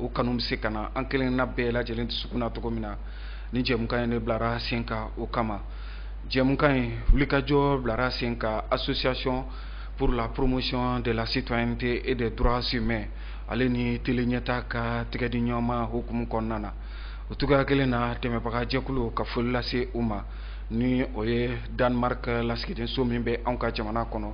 o kanu bɛ se ka na an kelenna bɛɛ lajɛlen dusukun na cogo min na nin jɛmukan in de bilara sen kan o kama jɛmukan in wulikajɔ bilara sen kan association pour la promotion de la citoyenneté et des droits humains ale ni tele ɲɛta ka tɛgɛdiɲɔgɔnma hukumu kɔnɔna na o cogoya kelen na dɛmɛbaga jɛkulu ka foli lase u ma ni o ye danemark lasigidenso min bɛ anw ka jamana kɔnɔ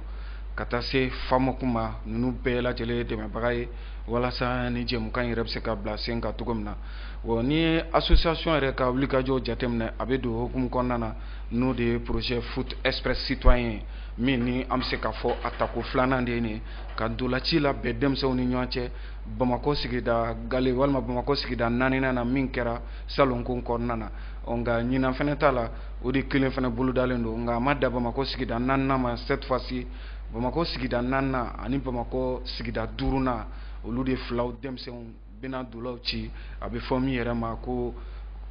ka taa se famoc ma ninnu bɛɛ lajɛlen dɛmɛbaga ye walasa nin jɛmukan yɛrɛ bɛ se ka bila sen kan cogo min na wa nin ye association yɛrɛ ka wulikajɔ jateminɛ a bɛ don hukumu kɔnɔna na n'o de ye projet foot express citoyen ye min ni an bɛ se k'a fɔ a tako filanan de ye nin ye ka ntolaci labɛn denmisɛnw ni ɲɔgɔn cɛ bamakɔ sigida gale walima bamakɔ sigida naaninan na min kɛra salonko kɔnɔna na ɔ nka ɲinan fana ta la o de kelen fana bolodalen don nka a ma dan bamakɔ sigida naaninan ma cette fois ci bamakɔ sigida naaninan ani bamakɔ sigida duurunan olu de filaw denmisɛnw bɛna ntolaw ci a bɛ fɔ min yɛrɛ ma ko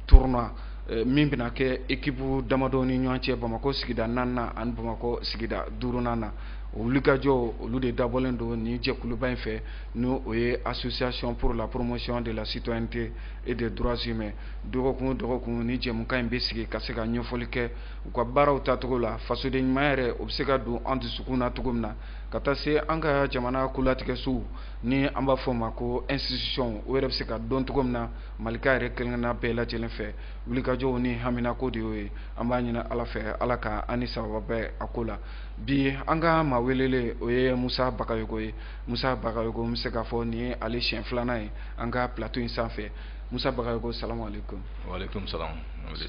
tournoi eh, min bɛna kɛ ekipu damadɔ ni ɲɔgɔn cɛ bamakɔ sigida naaninan ani bamakɔ sigida duurunan na o wulikajɔw olu de dabɔlen don nin jɛkuluba in fɛ ni o ye association pour la promotion de la citoyenneté et des droits humains dɔgɔkun o dɔgɔkun nin jɛmukan in bɛ sigi ka se ka ɲɛfɔli kɛ u ka baaraw tacogo la fasoden ɲuman yɛrɛ o bɛ se ka don an dusukun na cogo min na ka taa se an ka jamana kolatigɛsow ni an b'a fɔ o ma ko institution o yɛrɛ bɛ se ka dɔn cogo min na malika yɛrɛ kelenna bɛɛ lajɛlen fɛ wulikajɔw ni haminako de y'o ye an b'a ɲini ala fɛ ala ka an ni sababa bɛn a ko la bi an ka maa welele o ye musa bakayogo ye musa bakayogo n bɛ se k'a fɔ nin ye ale siɲɛ filanan ye an ka plateau in sanfɛ Musa Bakayogo salamu aleyikoum. Waleykoum salam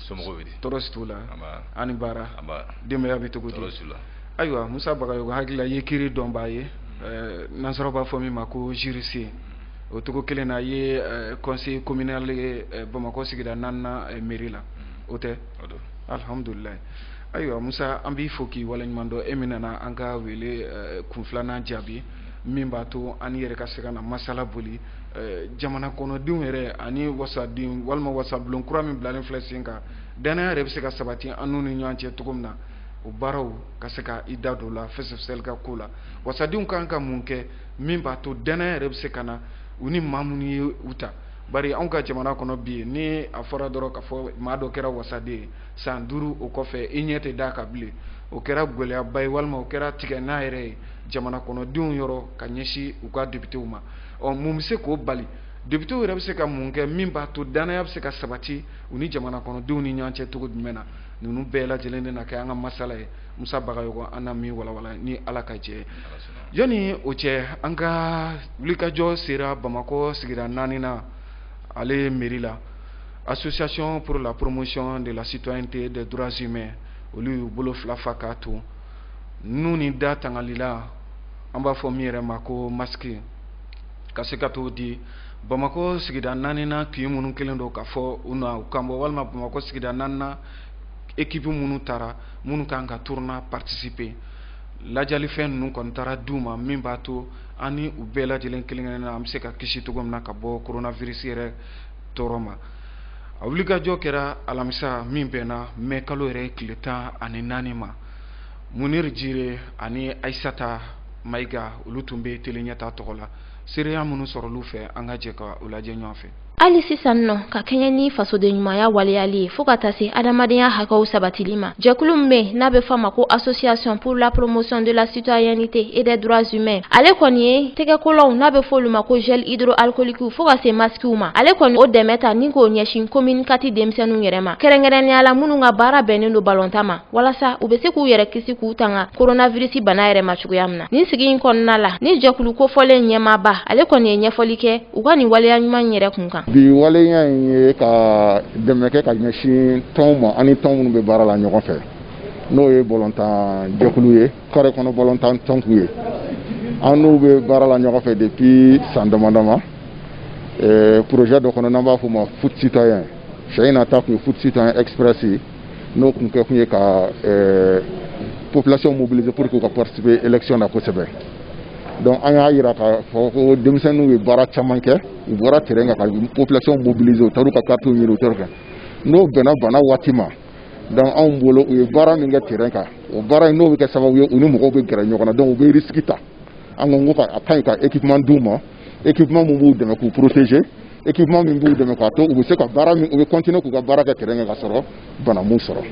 somɔgɔw bɛ di? Tɔɔrɔ si t'u la. Nba. A' ni baara. Nba. Denbaya bɛ cogo di? Tɔɔrɔ si t'u la. Ayiwa Musa Bakayogo hakili la i ye kiri dɔnbaa ye ɛɛ nansaraw b'a fɔ min ma ko juriste o cogo kelen na i ye ɛɛ conseiller communal ye ɛɛ Bamakɔ sigida naaninan ɛɛ mairie la o tɛ? O don. Alihamudulilayi ayiwa Musa an b'i fo k'i waleɲuman dɔn e min nana an ka wele ɛɛ kun filanan jaabi min b'a to an n'i yɛrɛ ka se ka na masala boli jamana kɔnɔdenw yɛrɛ ani wasaden walima wasabulon kura min bilalen filɛ sen kan dannaya yɛrɛ bɛ se ka sabati an ni ɲɔgɔn cɛ cogo min na o baaraw ka se ka i da don la fɛsɛfɛsɛli ka ko la wasadenw ka kan ka mun kɛ min b'a to dannaya yɛrɛ bɛ se ka na u ni maa minnu ye u ta bari anw ka jamana kɔnɔ bi yen ni a fɔra dɔrɔn k'a fɔ maa dɔ kɛra wasaden ye san duuru o kɔfɛ i ɲɛ tɛ d'a kan bilen o kɛra gɛlɛyaba ye walima o kɛra tigɛnna yɛrɛ ye jamana kɔnɔdenw yɔrɔ ka ɲɛsin u ka depitew ma ɔ mun bɛ se k'o bali depitew yɛrɛ bɛ se ka mun kɛ min b'a to dannaya bɛ se ka sabati u ni jamana kɔnɔdenw ni ɲɔgɔn cɛ cogo jumɛn na ninnu bɛɛ lajɛlen de na kɛ an ka masala ye musa bagayɔgɔ an na min walawala ni ala ka jɛ yanni o cɛ an ka wulikajɔ sera bamakɔ sigida naaninan ale mɛri la association pour la promotion de la citoyenneté des droits humains olu y'u bolo fila fa k'a to nun ni da tangalilan an b'a fɔ min yɛrɛ ma ko masiki ka se ka t'o di bamakɔ sigida naaninan kin minnu kɛlen don k'a fɔ u na u kan bɔ walima bamakɔ sigida naaninan ekipu minnu taara minnu kan ka turunuwa patisipe lajɛlifɛn ninnu kɔni taara di u ma min b'a to an ni u bɛɛ lajɛlen kelen-kelen na an bɛ se ka kisi cogo min na ka bɔ koronavirisi yɛrɛ tɔɔrɔ ma a wulikajɔ kɛra alamisa min bɛnna mɛ kalo yɛrɛ tile tan ani naani ma muniri jire ani ayisata mayiga olu tun bɛ tele ɲɛta tɔgɔ la seereya minnu sɔrɔl'u fɛ an ka jɛ ka u lajɛ ɲɔgɔn fɛ hali sisan nɔ ka kɛɲɛ ni fasoden ɲumanya waleyali ye fɔɔ ka taa se adamadenya hakɛw sabatili ma jɛkulu min be n'a be fɔ ma ko association pour la promotion de la citoyenneté et des droits humains ale kɔni ye tɛgɛkolanw n'a be fɔ olu ma ko gel hydroalcoolikiw fɔɔ ka se masikiw ma ale kɔni o dɛmɛ ta ni k'o ɲɛsin komini kati denmisɛnninw yɛrɛ ma kɛrɛnkɛrɛnnenya la minnu ka baara bɛnnen don balontan ma walasa u bɛ se k'u yɛrɛ kisi k'u tanga koronavirisi bana yɛrɛ ma cogoya min na nin sigi in kɔnɔna la ni jɛkulu kofɔlen ɲɛmaaba ale kɔni ye ɲɛfɔli kɛ u ka nin waleya ɲuman yɛrɛ kun kan bi waleya in ye ka dɛmɛ kɛ ka ɲɛsin tɔnw ma ani tɔn minnu bɛ baara la ɲɔgɔn fɛ n'o ye balontan jɛkulu ye kare kɔnɔ balontan tɔnkulu ye an n'u bɛ baara la ɲɔgɔn fɛ depuis san dama dama projet dɔ kɔnɔ n'an b'a fɔ o ma foot citoyen sen in na ta tun ye foot citoyen express ye n'o tun kɛ kun ye ka eh, population mobiliser pour que u ka participer élection na kosɛbɛ donc an y'a jira k'a fɔ ko denmisɛnninw ye baara caman kɛ u bɔra terrain kan ka population mobiliser u taar'u ka karitiw ɲini u taar'u kɛ n'o bɛnna bana waati ma donc anw bolo u ye baara min kɛ terrain kan o baara in n'o bɛ kɛ sababu ye u ni mɔgɔw bɛ gɛrɛ ɲɔgɔn na donc u bɛ risque ta an ko ko a ka ɲi ka équipement d'u ma ekipeman min b'u dɛmɛ k'u poroteze ekipeman min b'u dɛmɛ k'a to u bɛ se ka baara min u bɛ kɔntine k'u ka baara kɛ terɛn kan k'a sɔrɔ bana m'u sɔrɔ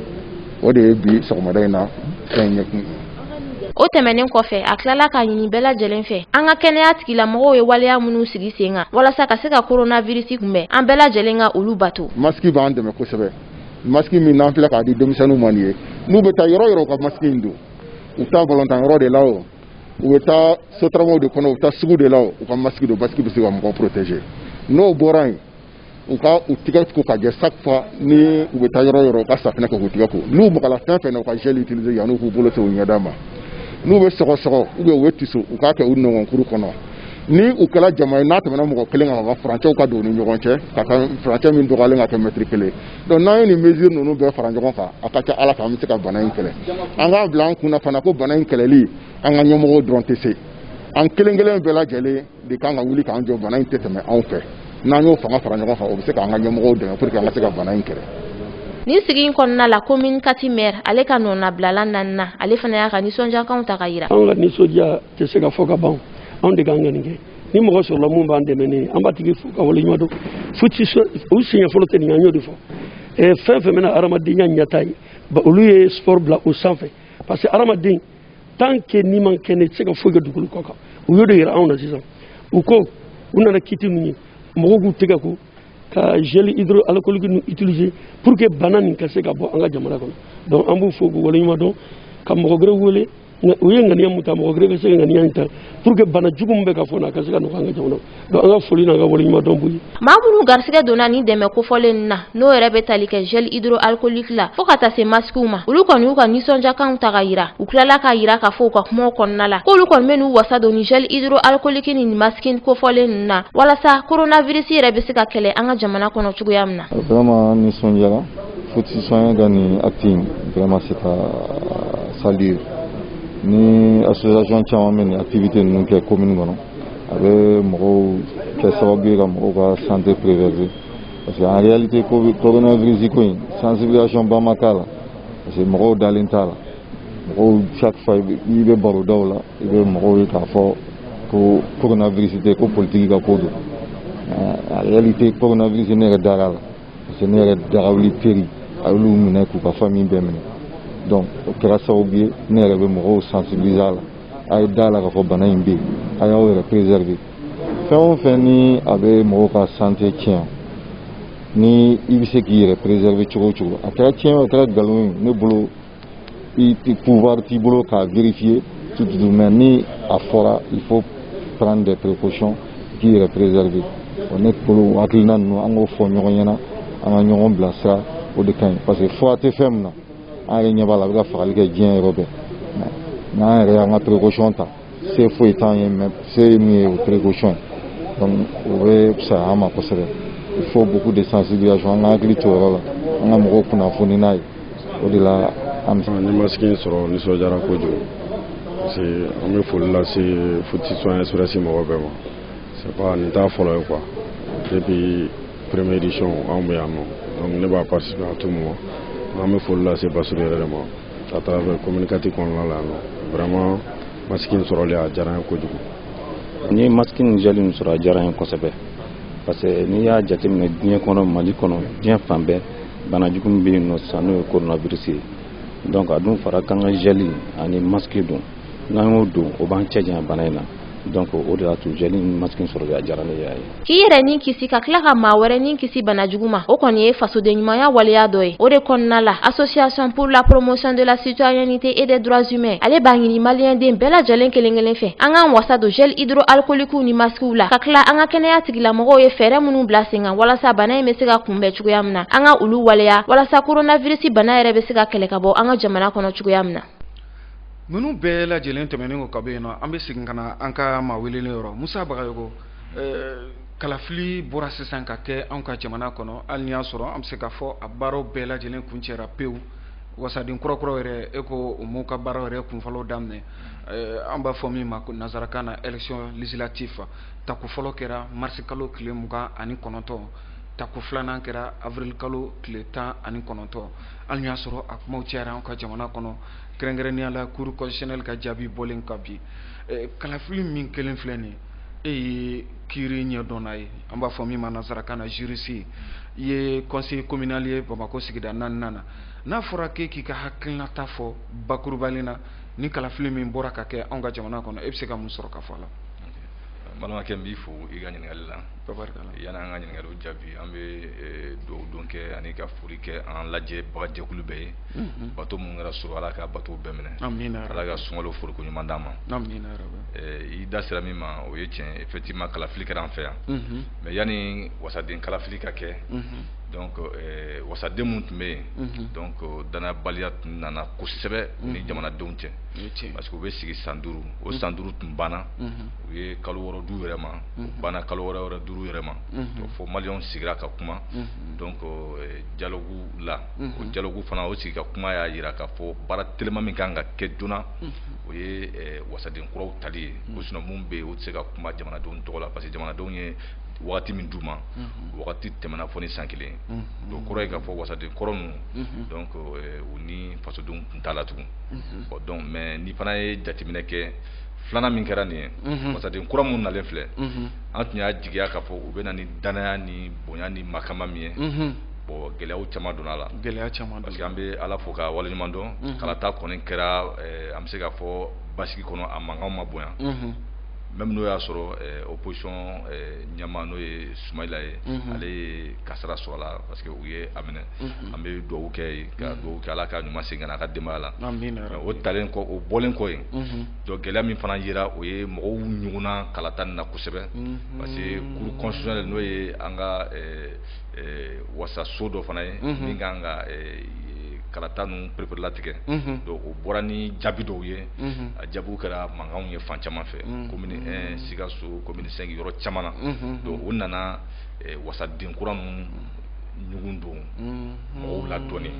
o de ye bi sɔgɔmada in na fɛn ɲɛkun ye o tɛmɛnen kɔfɛ a tilala k'a ɲini bɛɛ lajɛlen fɛ an ka kɛnɛya tigilamɔgɔw ye waleya minnu sigi sen kan walasa ka se ka koronavirisi kunbɛn an bɛɛ lajɛlen ka olu bato masiki b'an dɛmɛ kosɛbɛ masiki min n'an filɛ k'a di denmisɛnninw ma nin ye n'u bɛ taa yɔrɔ yɔrɔ u ka masiki in don u taa balontan yɔrɔ de la o u bɛ taa sotaramaw de kɔnɔ u bɛ taa sugu de la u ka masiki don masiki bɛ se ka mɔgɔ protéger n'o bɔra yen u ka u tɛgɛ ko ka jɛ chaque fois ni u bɛ taa yɔrɔ yɔrɔ u ka safinɛ kɛ k'u tɛgɛ ko n'u magala fɛn fɛn na u ka gel utiliser yanni k'u bolo se u ɲɛda ma n'u bɛ sɔgɔsɔgɔ u bɛ u bɛ tiso u k'a kɛ u nɔnkɔnkuru kɔnɔ ni u kɛra jama ye n'a tɛmɛna mɔgɔ kelen kan ka furancɛw ka don u ni ɲɔgɔn cɛ ka kan furancɛ min dɔgɔyalen ka kɛ mɛtiri kelen donc n'an ye nin mesure ninnu bɛɛ fara ɲɔgɔn kan a ka ca ala fɛ an bɛ se ka bana in kɛlɛ an k'a bila an kun na fana ko bana in kɛlɛli an ka ɲɛmɔgɔw dɔrɔn tɛ se an kelen kelen bɛɛ lajɛlen de kan ka wuli k'an jɔ bana in tɛ tɛmɛ anw fɛ n'an y'o fanga fara ɲɔgɔn kan o bɛ se k'an ka ɲɛmɔgɔw dɛmɛ pour que an ka se ka bana in kɛlɛ nin sigi in kɔnɔna la komini kati mɛri ale ka nɔnabilala nanina ale fana y'a ka nisɔndiyakanw ta ka yira anw ka nisɔndiya tɛ se ka fɔ ka ban anw de kan ka nin kɛ ni mɔgɔ sɔrɔla min b'an dɛmɛ ni an b'a tigi fo k'a waleɲuman dɔn fo ci u siɲɛ fɔlɔ tɛ nin an y'o de fɔ eh, fɛn fɛn bɛna hadamadenya ɲɛtaa ye olu ye sport bila o sanfɛ parce que hadamaden tant que n'i man kɛnɛ i tɛ se ka foyi kɛ dugukolo kɔ kan u y'o de yira anw na sisan u ko u nana kiti ninnu ye mɔgɔw k'u tɛgɛ ko ka gel hydroalcoolique ninnu utiliser pour que bana nin ka se ka bɔ an ka jamana kɔnɔ donc an b'u fo k'u waleɲuman dɔn ka mɔgɔ wɛrɛ wele u ye ŋaniya min ta mɔgɔ wɛrɛ bɛ se ka ŋaniya in ta pour que bana jugu min bɛ ka fɔ na a ka se ka nɔgɔya an ka jamana donc an ka foli n'an ka waleɲuman dɔn b'u ye maa minnu garisigɛ donna nin dɛmɛ kofɔlen na n'o yɛrɛ bɛ tali kɛ gel hydroalcoolique la fo ka taa se masikiw ma olu kɔni y'u ka nisɔndiyakanw ta ka yira u tilala k'a yira k'a fɔ u ka kumaw kɔnɔna la k'olu kɔni bɛn'u wasa don ni gel hydroalcoolique ni masiki kofɔlen na walasa coronavirus yɛrɛ bɛ se ka kɛlɛ an ka jamana kɔnɔ cogoya min na vraiment nisɔndiyara foti sonya ka nin acte in vraiment c'est à saluer ni association caman bɛ nin activité ninnu kɛ commune kɔnɔ a bɛ mɔgɔw kɛ sababu ye ka mɔgɔw ka santé préserver parce que en réalité coronavirus ko in sensibilisation ba ma k'a la parce que mɔgɔw dalen t'a la mɔgɔw chaque fois i bɛ barodaw la i bɛ mɔgɔw ye k'a fɔ ko coronavirus tɛ ko politiki ka ko don en réalité coronavirus ne yɛrɛ dar'a la parce que ne yɛrɛ dagawuli peri a y'olu minɛ k'u ka famille bɛɛ minɛ donc o kɛra sababu ye ne yɛrɛ bɛ mɔgɔw sensibiliser a la a ye da la k'a fɔ bana in bɛ yen a y'aw yɛrɛ préserver fɛn o fɛn ni a bɛ mɔgɔw ka santé tiɲɛ ni i bɛ se k'i yɛrɛ préserver cogo o cogo a kɛra tiɲɛ o a kɛra nkalon ye ne bolo pouvoir t'i bolo k'a vérifier tout de même ni a fɔra il faut prendre des précautions k'i yɛrɛ préserver o ne bolo hakilina ninnu an k'o fɔ ɲɔgɔn ɲɛna an ka ɲɔgɔn bilasira o de ka ɲi parce que fura tɛ fɛn min na an yɛrɛ ɲɛ b'a la a bɛ ka fagali kɛ diɲɛ yɔrɔ bɛɛ n'an yɛrɛ y'an ka précaution ta se foyi t'an ye mais se min ye o précaution donc o bɛ fisaya an ma kosɛbɛ il faut beaucoup de sensibilisation an ka hakili to yɔrɔ la an ka mɔgɔw kunnafoni n'a ye o de la n ye masque in sɔrɔ nisɔndiyara kojugu parce que an bɛ foli lase futi soin express mɔgɔ bɛɛ ma c'est pas nin t'a fɔlɔ ye quoi depuis première édition anw bɛ yan nɔ donc ne b'a participer à tout moment an bɛ foli lase Basiru yɛrɛ de ma à travers commune quatre kɔnɔna la yan vraiment masque in sɔrɔli a diyara n ye kojugu n ye masque ni gel min sɔrɔ a diyara n ye kosɛbɛ parce que n'i y'a jateminɛ diɲɛ kɔnɔ mali kɔnɔ diɲɛ fan bɛɛ bana jugu min bɛ yen nɔ sisan n'o ye coronavirus ye donc a dun fɔra k'an ka gel ani masque don n'an y'o don o b'an cɛ janya bana in na donc o de y'a to gel ni masque in sɔrɔli a diyara ne ye k'i yɛrɛ ni kisi ka tila ka maa wɛrɛ ni kisi bana jugu ma o kɔni ye fasoden ɲumanya waleya dɔ ye o de kɔnɔna la association pour la promotion de la citoyenneté et des droits humains ale b'a ɲini maliyɛnden bɛɛ lajɛlen kelen kelen fɛ an k'an wasa don gel hydroalcoolique ni maskiw la ka tila an ka kɛnɛya tigilamɔgɔw ye fɛɛrɛ minnu bila sen kan walasa bana in bɛ se ka kunbɛn cogoya min na an ka olu waleya walasa coronavirus bana yɛrɛ bɛ se ka kɛlɛ ka bɔ an ka jamana kɔnɔ cogoya min na Ninnu bɛɛ lajɛlen tɛmɛnen kɔ ka bɔ yen nɔ an bɛ segin ka na an ka maa welelen yɔrɔ Musa Bagayogo ɛɛ kalafili bɔra sisan ka kɛ anw ka jamana kɔnɔ hali n'i y'a sɔrɔ an bɛ se k'a fɔ a baaraw bɛɛ lajɛlen kuncɛra pewu wasaden kura kuraw yɛrɛ e ko u m'u ka baaraw yɛrɛ kunfɔlɔw daminɛ ɛɛ an b'a fɔ min ma ko nansarakan na élection législative tako fɔlɔ kɛra mars kalo tile mugan ani kɔnɔntɔn tako filanan kɛra avril kalo tile tan ani kɔnɔntɔn hali n'i y'a sɔrɔ a kuma cayara an ka jamana kɔnɔ kɛrɛnkɛrɛnnenya la cour constitutionnelle ka jaabi bɔlen kɔ bi kalafili min kɛlen filɛ nin e ye kiiri ɲɛdɔnna ye an b'a fɔ min ma nansarakan na juriste i ye conseiller communal ye bamakɔ sigida naaninan na n'a fɔra k'e k'i ka hakilinata fɔ bakurubalen na nin kalafili min bɔra ka kɛ an ka jamana kɔnɔ e bɛ se ka mun sɔrɔ k'a fɔ a la balimakɛ n b'i fo i ka ɲininkali la yanni an ka ɲininkali jaabi an bɛ dugawu don kɛ ani ka foli kɛ an lajɛbaga jɛkulu bɛɛ ye bato minnu kɛra surɔ ala ka bato bɛɛ minɛ ala ka sunkalo fooriko ɲuman d'an ma i da sera min ma o ye cɛn effectivement kalafili kɛra an fɛ yan mais yanni wasaden kalafili ka kɛ wasaden minnu tun bɛ yen donc dannayabaliya tun nana kosɛbɛ ni jamanadenw cɛ parce que u bɛ sigi san duuru o san duuru tun banna u ye kalo wɔɔrɔ d'u yɛrɛ ma o banna kalo wɔɔrɔ wɛrɛ d'u yɛrɛ ma fo maliyɛnw sigira ka kuma donc dialogue la o dialogue fana o sigi ka kuma y'a jira k'a fɔ baara teliman min ka kan ka kɛ joona o ye wasaden kuraw tali ye ko sinon minnu bɛ yen u tɛ se ka kuma jamanadenw tɔgɔ la parce que jamanadenw ye waati min d'u ma wagati tɛmɛna fo ni san kelen ye o kɔrɔ ye k'a fɔ wasaden kɔrɔ ninnu u ni fasodenw tun t'a la tugun o donc mais n'i fana ye jateminɛ kɛ filanan min kɛra nin ye wasaden kura minnu nalen filɛ an tun y'a jigiya k'a fɔ u bɛ na ni dannaya ni bonya ni makama min ye bon gɛlɛya caman donna a la gɛlɛya caman parce que an bɛ ala fo k'a waleɲuman dɔn kalata kɔni kɛra an bɛ se k'a fɔ basigi kɔnɔ a mankan ma bonya même n'o y'a sɔrɔ opposition ɲɛmaa n'o ye Sumayila ye ale ye kasara sɔrɔ a la parce que u ye a minɛ an bɛ dugawu kɛ a ye ka dugawu kɛ ala k'a ɲuman segin ka na a ka denbaya la Amina ya rabi. o talen kɔ o bɔlen kɔ yen Mhm. donc gɛlɛya min fana yera o ye mɔgɔw ɲugunna kalata nin na kosɛbɛ Mhm. parce que cour constitutionnelle n'o ye an ka eh, eh, wasaso dɔ fana ye Mhm. min kan ka eh, kalata ninnu pereperelatigɛ Mhm. donc o bɔra ni jaabi dɔw ye Mhm. a jaabiw kɛra mankanw ye fan caman fɛ Mhm. commune 1 sikaso commune 5 yɔrɔ caman na Mhm. donc o nana eh, wasaden kura ninnu ɲugun don mhm. mɔgɔw la dɔɔnin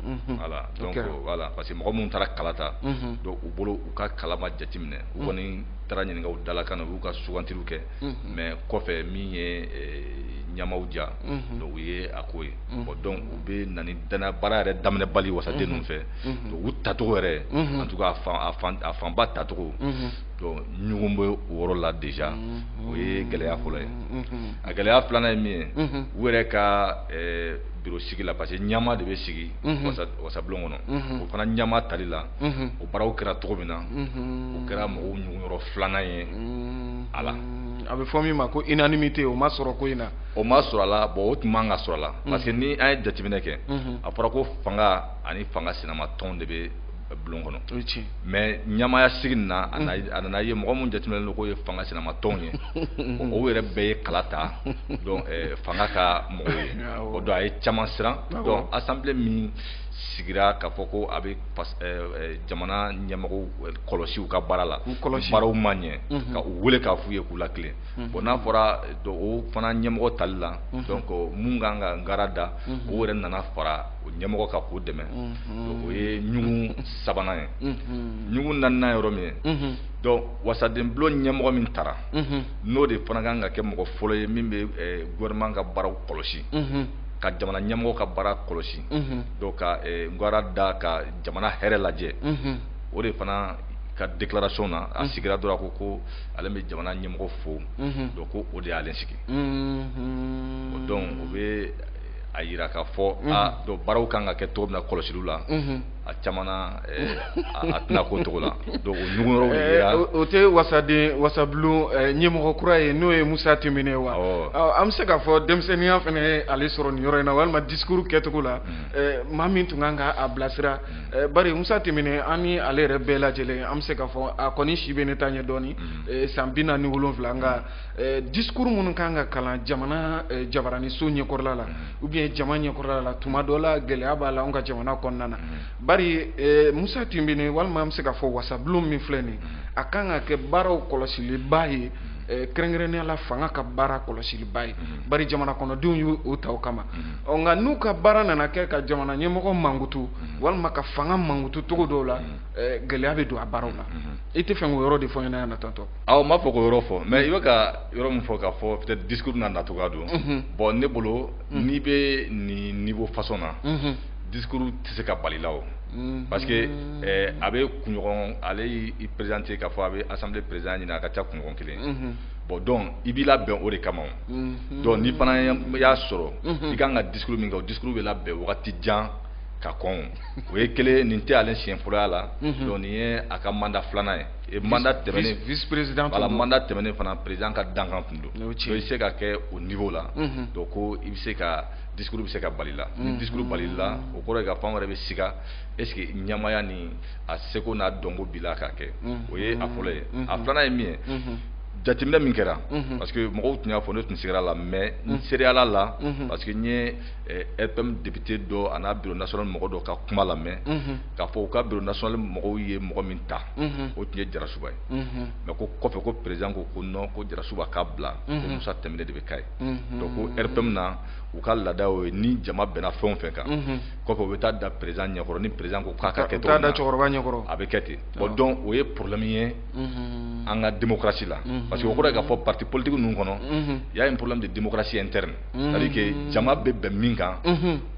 mhm. voilà donc voilà parce que mɔgɔ minnu taara kala ta mhm. donc u bolo u ka kala ma jateminɛ u kɔni taara ɲininka u dalakan na u y'u ka sugantiliw kɛ mais kɔfɛ min ye ɲɛmaaw eh, diya donc u ye a ko ye bon donc u bɛ na ni dana baara yɛrɛ daminɛ bali wasaden ninnu fɛ donc u tacogo yɛrɛ en tout cas a fanba tacogo donc ɲugun bɛ o yɔrɔ la déjà o ye gɛlɛya fɔlɔ ye a gɛlɛya filanan ye min ye u yɛrɛ ka eh, biro sigi la parce que ɲɛmaa de bɛ sigi wasabulon kɔnɔ o fana ɲɛmaa tali la o baaraw kɛra cogo min na o kɛra mɔgɔw ɲugun yɔrɔ filanan ye a la a bɛ fɔ min ma ko unanimité o ma sɔrɔ ko in na o ma sɔrɔ a la bon o tun man ka sɔrɔ a la parce que ni an ye jateminɛ kɛ a fɔra ko fanga ani fanga sinamatɔn de bɛ bulon kɔnɔ mais ɲɛmaaya sigi na a nana ye mɔgɔ minnu jateminɛnen don k'o ye fanga sinamatɔn ye o yɛrɛ bɛɛ ye kala ta fanga ka mɔgɔw ye o donc a ye caman siran donc assemblée min sigira k'a fɔ ko a bɛ jamana ɲɛmɔgɔw kɔlɔsi u ka baara la baaraw ma ɲɛ ka u weele k'a f'u ye k'u latilen bon n'a fɔra o fana ɲɛmɔgɔ tali la donc minnu ka kan ka garan da o yɛrɛ nana fara o ɲɛmɔgɔ kan k'o dɛmɛ o ye ɲugun sabanan ye ɲugun naaninan yɔrɔ min ye donc wasadenbulon ɲɛmɔgɔ min tara n'o de fana kan ka kɛ mɔgɔ fɔlɔ ye min bɛ gouvernement ka baaraw kɔlɔsi ka jamana ɲɛmɔgɔ ka baara kɔlɔsi ka garan da ka jamana hɛrɛ lajɛ o de fana ka déclaration na a sigira dɔrɔn ko ko ale bɛ jamana ɲɛmɔgɔ fo ko o de y'ale sigi o donc u bɛ a jira k'a fɔ don baaraw kan ka kɛ to na kɔlɔsili la a caman a tɛna ko cogo la o tɛ wasaden wasabulon ɲɛmɔgɔ kura ye n'o ye musa tɛnbinɛ ye wa an bɛ se k'a fɔ denmisɛnninya fana ye ale sɔrɔ nin yɔrɔ in na walima discours kɛcogo la maa min tun kan ka a bilasira bari musa tɛnbinɛ an ni ale yɛrɛ bɛɛ lajɛlen an bɛ se k'a fɔ a kɔni si bɛ ne ta ɲɛ dɔɔnin san bi naani ni wolonwula an ka Eh, discours minnu kan ka kalan jamana eh, jabaraniso ɲɛkɔrɔla la mm-hmm. ou bien jama ɲɛkɔrɔla la tuma dɔ la gɛlɛya b'a la anw ka jamana kɔnɔna na mm-hmm. bari eh, musa tɛnbinɛ walima an bɛ se k'a fɔ wasabulon min filɛ nin mm-hmm. a kan ka kɛ baaraw kɔlɔsiliba ye kɛrɛnkɛrɛnnenya la fanga ka baara kɔlɔsiliba ye bari jamana kɔnɔdenw y'u ta o kama ɔ nka n'u ka baara nana kɛ ka jamana ɲɛmɔgɔ mankutu walima ka fanga mankutu cogo dɔw la gɛlɛya bɛ don a baaraw la i t'a fɛ k'o yɔrɔ de fɔ n ɲɛna yan na tantɔ Aw ma fɔ k'o yɔrɔ fɔ mais i bɛ ka yɔrɔ min fɔ k'a fɔ peut-être discours nana cogoya don bon ne bolo n'i bɛ nin niveau façon na discours tɛ se ka bal'i la o parce que a bɛ kunɲɔgɔn ale y'i présenter k'a fɔ a bɛ assemblée présidence ɲini a ka ca kunɲɔgɔn kelen bon donc i b'i labɛn o de kama donc ni fana y'a sɔrɔ i ka kan ka discours min kɛ discours bɛ labɛn waati jan ka kɔn o ye kelen nin tɛ ale siɲɛfɔlɔya la donc nin ye a ka mandat filanan ye Et mandat tɛmɛnen vice président voilà mandat tɛmɛnen fana président ka dankan tun don donc i bɛ se ka kɛ o niveau la mhm. donc ko i bɛ se ka discours bɛ se ka bal'i la ni mhm. discours bal'i la o kɔrɔ ye k'a fɔ an yɛrɛ bɛ siga est ce que ɲɛmaaya ni a seko n'a dɔnko b'i la k'a kɛ mhm. o ye a fɔlɔ ye a filanan ye min ye jateminɛ min kɛra parce que mɔgɔw tun y'a fɔ ne tun sigar'a la mais n seereyal'a la parce que n ye eh, rpm député dɔ an'a bureau national mɔgɔ dɔ ka kuma lamɛn k'a fɔ u ka bureau national mɔgɔw ye mɔgɔ min ta o tun ye jarasuba ye mais ko kɔfɛ ko président ko ko non ko jarasuba k'a bila ko musa tɛnbinɛ de bɛ k'a ye donc ko rpm na u ka laada ye ni jama bɛnna fɛn o fɛn kan kɔfɛ o bɛ taa da président ɲɛkɔrɔ ni président ko k'a ka kɛ cogo a bɛ kɛ ten bon donc o ye problème ye an ka démocratie la parce que o kɔrɔ ye k'a fɔ parti politique ninnu kɔnɔ y'a ye problème de démocratie interne c'est-à-dire que jama bɛ bɛn min kan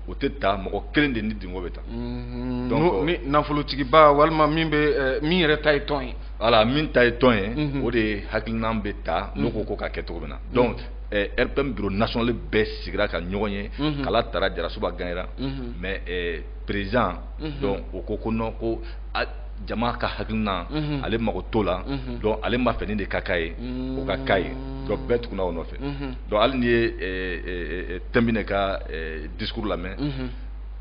o tɛ ta mɔgɔ kelen de nidungɔ bɛ ta Mhm. donc ni nafolotigiba walima min bɛ eh, min yɛrɛ ta ye tɔn ye. voilà min ta ye tɔn ye. Mhm. o de hakilinan bɛ ta n'o ko ko ka kɛ cogo min na. Mhm. donc eh, rpm bureau national bɛɛ sigira ka ɲɔgɔn ye. kala tara jarasuba ganyera. mais eh, président. donc o ko ko non ko jama ka hakilinan mhm. ale mago t'o la mhm. donc ale b'a fɛ nin de ka k'a ye mhm. o ka k'a ye donc bɛɛ tugunna o nɔfɛ donc hali n'i ye eh, eh, eh, tɛnbinɛ ka discours lamɛn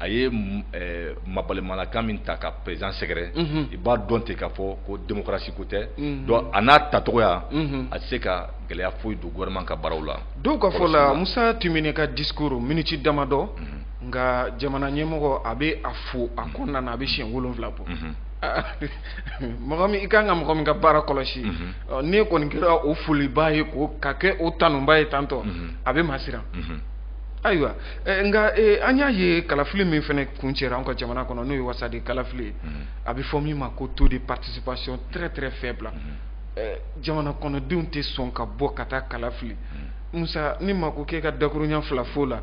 a ye eh, mabalimalakan min ta ka président sɛgɛrɛ mhm. i b'a dɔn ten k'a fɔ ko démocratie ko tɛ mhm. donc a n'a tacogoya mhm. a tɛ se ka gɛlɛya foyi don gouvernement ka baaraw la dɔw ka fɔ la Musa Timbine ka discours miniti damadɔ nka jamana ɲɛmɔgɔ a bɛ a fo a kɔnɔna na a bɛ siɲɛ wolonwula bɔ mɔgɔ min i kan ka mɔgɔ min ka baara kɔlɔsi n'e kɔni kɛra o folibaa ye ka kɛ o tanubaa ye tantôt a bɛ maa siran ayiwa Eh, nka eh, an y'a ye kalafili min fana kuncɛra an ka jamana kɔnɔ n'o ye wasaden kalafili ye mm-hmm. a bɛ fɔ min ma ko taux de participation très très faible mm-hmm. eh, jamana kɔnɔdenw tɛ sɔn ka bɔ ka taa kalafili mm-hmm. musa ne mako k'e ka dakurunya fila fɔ la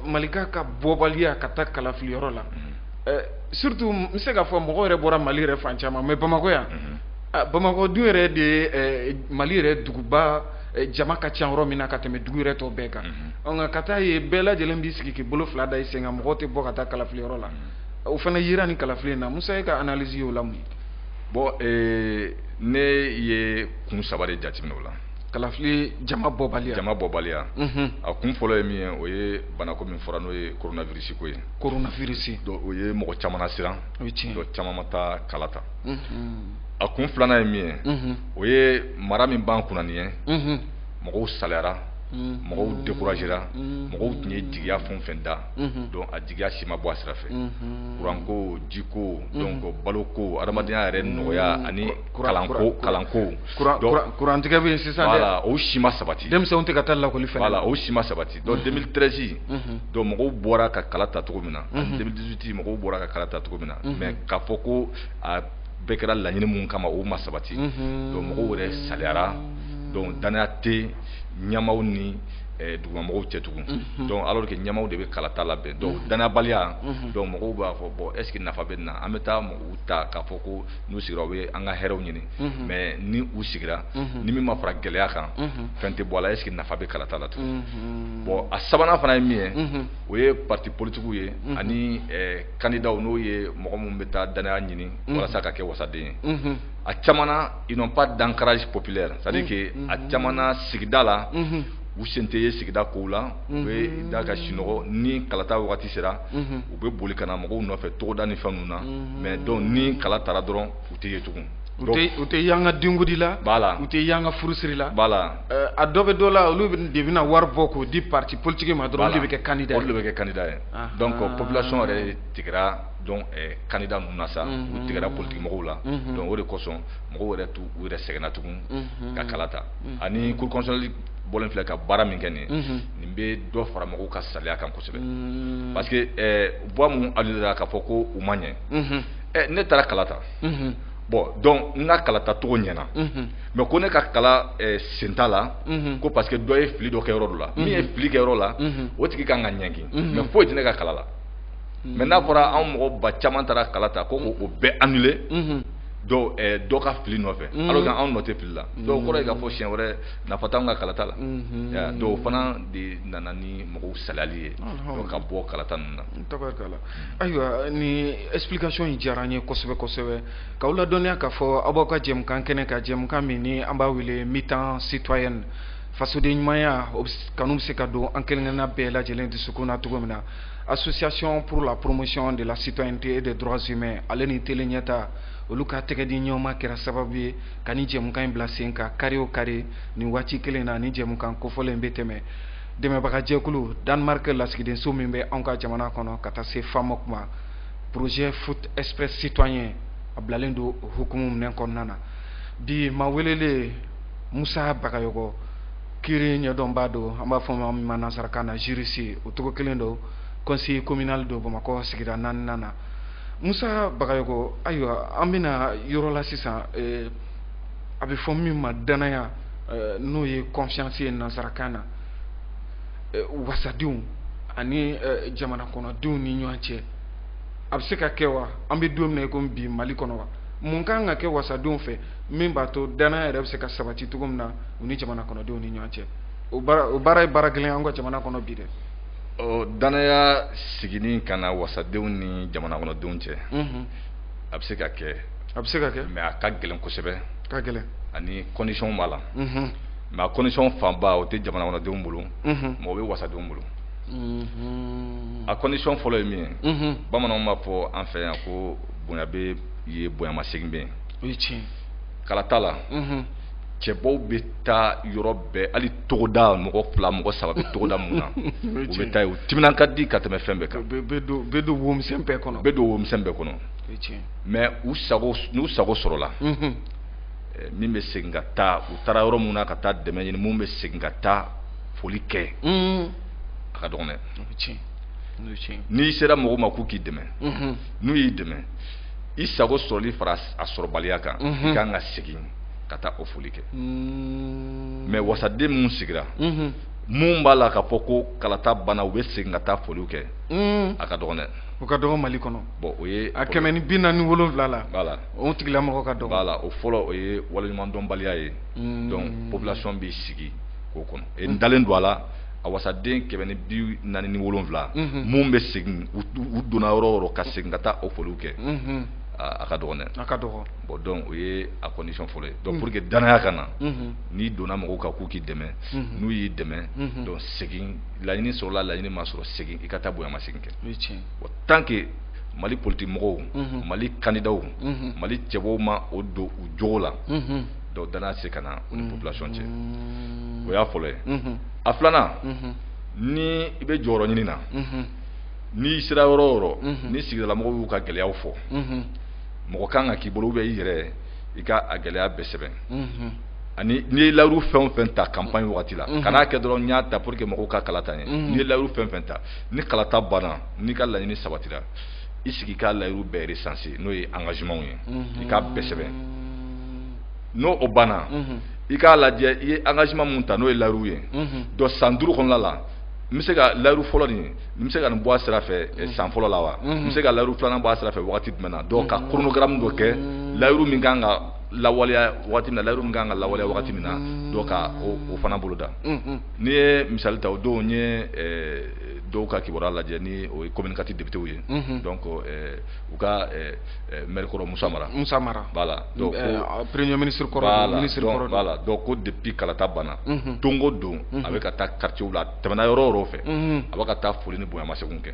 malikaw ka bɔbaliya ka taa kalafili yɔrɔ la surtout n bɛ se k'a fɔ mɔgɔ yɛrɛ bɔra mali yɛrɛ fan caman mais bamakɔ yan ah, bamakɔ dun yɛrɛ de ye mali yɛrɛ duguba eh, jama ka ca yɔrɔ min na ka tɛmɛ dugu yɛrɛ tɔ bɛɛ kan mhm. nka ka taa ye bɛɛ lajɛlen b'i sigi k'i bolo fila da i sen kan mɔgɔw tɛ bɔ ka taa kalafili yɔrɔ la mhm. o fana yera nin kalafili in na musa e ka analyse y'o la mun ye bɔn eh, ne ye kun saba de jateminɛ o la kalafili jama bɔbaliya jama bɔbaliya mhm. a kun fɔlɔ ye min ye o ye banako min fɔra n'o ye coronavirus ko ye coronavirus donc o ye mɔgɔ caman lasiran o ye tiɲɛ donc caman ma taa kala ta a kun filanan ye min ye o ye mara min b'an kunna nin ye mɔgɔw salayara mɔgɔw découragera mɔgɔw tun ye jigiya fɛn o fɛn da donc a jigiya si ma bɔ a sira fɛ kuranko jiko donc baloko adamadenya yɛrɛ nɔgɔya ani kalanko kalanko kurantigɛ bɛ sisan o si ma sabati denmisɛnw tɛ ka taa lakɔli fɛ la o si ma sabati donc 2013 donc mɔgɔw bɔra ka kala ta cogo min na ani 2018 mɔgɔw bɔra ka kala ta cogo min na mais k'a fɔ ko a bɛɛ kɛra laɲini mun kama o ma sabati donc mɔgɔw yɛrɛ salayara donc danaya tɛ ɲɛmaaw ni eh, dugumamɔgɔw cɛ tugun donc alors que ɲɛmaaw de bɛ kalata labɛn donc danayabaliya donc mɔgɔw b'a fɔ bon est ce que nafa bɛ nin na an bɛ taa mɔgɔw ta k'a fɔ ko n'u sigira u bɛ an ka hɛrɛw ɲini mais ni u sigira ni min ma fara gɛlɛya kan fɛn tɛ bɔ a la est-ce que nafa bɛ kalata la tugun bon a sabanan fana ye min ye o ye parti politigiw ye ani kandidaw n'o ye mɔgɔ minnu bɛ taa danaya ɲini walasa ka kɛ wasaden ye a caman na ils n'ont pas d'ancrage populaire c'est à dire que a caman na sigida la u sen tɛ ye sigida kow la u bɛ da ka sinɔgɔ ni kalata wagati sera u bɛ boli ka na mɔgɔw nɔfɛ togoda ni fɛn na mais donc ni kala tara dɔrɔn u tɛ ye tugun u tɛ y'an ka denkundi la b'a la u tɛ y'an ka furusiri la b'a la a dɔ bɛ dɔ la olu de bɛna wari bɔ k'o di pati politigi ma dɔrɔn de bɛ kɛ kandida olu bɛ kɛ kandida ye donc population yɛrɛ tigɛra donc kandida ninnu na sa u tigɛra politigimɔgɔ la donc o de kosɔn mɔgɔw yɛrɛ t'u yɛrɛ sɛgɛn na tugun ka kala ta ani cour constitutionnelle bɔ filɛ ka baara min kɛ nin nin bɛ dɔ fara mɔgɔw ka salaya kan kɔsɔ kosɛbɛ mm. parce que eh, voix minnu annulé la k'a fɔ ko u ma ɲɛ mm-hmm. eh, ne taara kala ta mm-hmm. bon donc n ka kala ta cogo ɲɛna mm-hmm. mais ko ne ka kala eh, sen t'a la ko parce que dɔ ye fili dɔ kɛ yɔrɔ dɔ la min ye fili kɛ yɔrɔ la o tigi kan ka ɲɛngi mais foyi tɛ ne ka kala la mais n'a fɔra anw mɔgɔ ba caman taara kala ta ko k'o bɛɛ annulé dɔ dɔ ka fili nɔfɛ alors que anw nɔ tɛ fili la donc o kɔrɔ ye k'a fɔ siɲɛ wɛrɛ nafa t'an ka kalata la dɔw fana de nana ni mɔgɔw salayali ye ka bɔ kalata ninnu na tabarikala ayiwa ni explication in diyara an ye kosɛbɛ kosɛbɛ k'aw ladɔnniya k'a fɔ aw b'aw ka jɛmukan kɛnɛ kan jɛmukan min ni an b'a wele mi-temps citoyenne fasoden ɲumanya kanu bɛ se ka don an kelenkelenna bɛɛ lajɛlen dusukun na cogo min na association pour la promotion de la citoyenneté et des droits humains ale ni tele ɲɛta olu ka tɛgɛdiɲɔgɔnma kɛra sababu ye ka nin jɛmukan in bila sen kan kari o kari nin waati kelen na ni jɛmukan kofɔlen bɛ tɛmɛ dɛmɛbagajɛkulu danemark lasigidenso min bɛ anw ka jamana kɔnɔ ka taa se famɔk ma projet foot express citoyen a bilalen don o hukumu nin kɔnɔna na bi maa welelen musa bagayɔgɔ kiri ɲɛdɔnbaa don an b'a fɔ ma min ma nansarakan na juriste o cogo kelen don conseiller communal don bamakɔ sigida naaninan na musa bagayoko ayiwa an bɛ na yɔrɔ la sisan eh, a bɛ fɔ min ma danaya eh, n'o ye confiance ye nansarakan na eh, wasadenw ani jamana kɔnɔdenw ni ɲɔgɔn cɛ a bɛ se ka kɛ wa an bɛ don min na i komi bi mali kɔnɔ wa mun kan ka kɛ wasadenw fɛ min b'a to danaya yɛrɛ bɛ se ka sabati cogo min na u ni jamana kɔnɔdenw ni ɲɔgɔn cɛ o baara ye baara gɛlɛn an ka jamana kɔnɔ bi dɛ ɔ danaya seginni ka na wasadenw ni jamana kɔnɔdenw cɛ a bɛ se ka kɛ a bɛ se ka kɛ mɛ a ka gɛlɛn kosɛbɛ ka gɛlɛn ani kɔndisiyɔn b'a la mɛ a kɔndisiyɔn fanba o tɛ jamana kɔnɔdenw bolo mɛ o bɛ wasadenw bolo a kɔndisiyɔn fɔlɔ ye min ye bamananw b'a fɔ an fɛ yan ko bonya bɛ yen bonyamasegin bɛ yen kalata la cɛbɔw bɛ taa yɔrɔ bɛɛ hali togoda mɔgɔ fila mɔgɔ saba bɛ togoda min na u bɛ taa u timinan ka di ka tɛmɛ fɛn bɛɛ kan bɛ don womisɛn bɛɛ kɔnɔ bɛ don womisɛn bɛɛ kɔnɔ mɛ u sago n'u sago sɔrɔla min bɛ segin ka taa u taara yɔrɔ min na ka taa dɛmɛ ɲini min bɛ segin ka taa foli kɛ a ka dɔgɔ dɛ n'i sera mɔgɔw ma k'u k'i dɛmɛ n'u y'i dɛmɛ i sago sɔrɔli fara a sɔrɔbaliya kan i kan ka segin ka taa o foli kɛ hmm. mais wasaden minnu sigira mhm. minnu b'a la ka fɔ ko kalata banna u bɛ segin ka taa foliw kɛ hmm. a ka dɔgɔn dɛ o ka dɔgɔn mali kɔnɔ bon o ye a kɛmɛ ni bi naani ni wolonwula la voilà o tigilamɔgɔ ka dɔgɔn voilà o fɔlɔ o ye waleɲumandɔnbaliya ye hmm. donc population b'i sigi k'o kɔnɔ e n dalen don a la a wasaden kɛmɛ ni bi naani ni wolonwula minnu bɛ segin u donna yɔrɔ o yɔrɔ ka segin ka taa o foliw kɛ a ka dɔgɔn dɛ a ka dɔgɔn bon donc o ye a condition fɔlɔ ye donc pour que danaya ka na n'i donna mɔgɔw kan k'u k'i dɛmɛ n'u y'i dɛmɛ donc segin laɲini sɔrɔla laɲini ma sɔrɔ segin i ka taa bonya masegin kɛ o tant que mali politikimɔgɔw mali candidats mali cɛbɔw ma o don u jogo la donc danaya tɛ se ka na u ni population cɛ o y'a fɔlɔ ye a filanan ni i bɛ jɔyɔrɔ ɲinini na n'i sera yɔrɔ o yɔrɔ ni sigidalamɔgɔw y'u ka gɛlɛyaw fɔ mɔgɔ kan ka k'i bolo bɛ i yɛrɛ i ka a gɛlɛya bɛɛ sɛbɛn ani n'i ye layiru fɛn fɛn ta campagne waati la kana kɛ dɔrɔn i y'a ta pour que mɔgɔw ka kala ta i ye n'i ye layiru fɛn fɛn ta ni kalata banna n'i ka laɲini sabatira i sigi ka layiru bɛɛ recenser n'o ye engagementw ye i k'a bɛɛ sɛbɛn n'o banna i k'a lajɛ i ye engagement minw ta n'o ye layiru ye donc san duuru kɔnɔna la n bɛ se ka layiru fɔlɔ nin ye n bɛ se ka nin bɔ a sira fɛ eh, mm. san fɔlɔ la wa mm-hmm. n bɛ se ka layiru filanan bɔ a sira fɛ wagati jumɛn na donc ka mm-hmm. chronogramme dɔ kɛ mm-hmm. layiru min kan ka lawaleya wagati min na layiru min kan ka lawaleya wagati min na donc ka o fana boloda n'i ye misali ta o don n ye eh, dɔw ka kibaruya lajɛ ni o ye commune quatre députéw ye donc eh, u ka maire kɔrɔ Musa Mara Musa Mara voilà donc premier ministre kɔrɔ ministre kɔrɔ voilà donc ko depuis kalata banna don o don a bɛ ka taa quartier la tɛmɛna yɔrɔ yɔrɔ fɛ a bɛ ka taa foli ni bonya masegin kɛ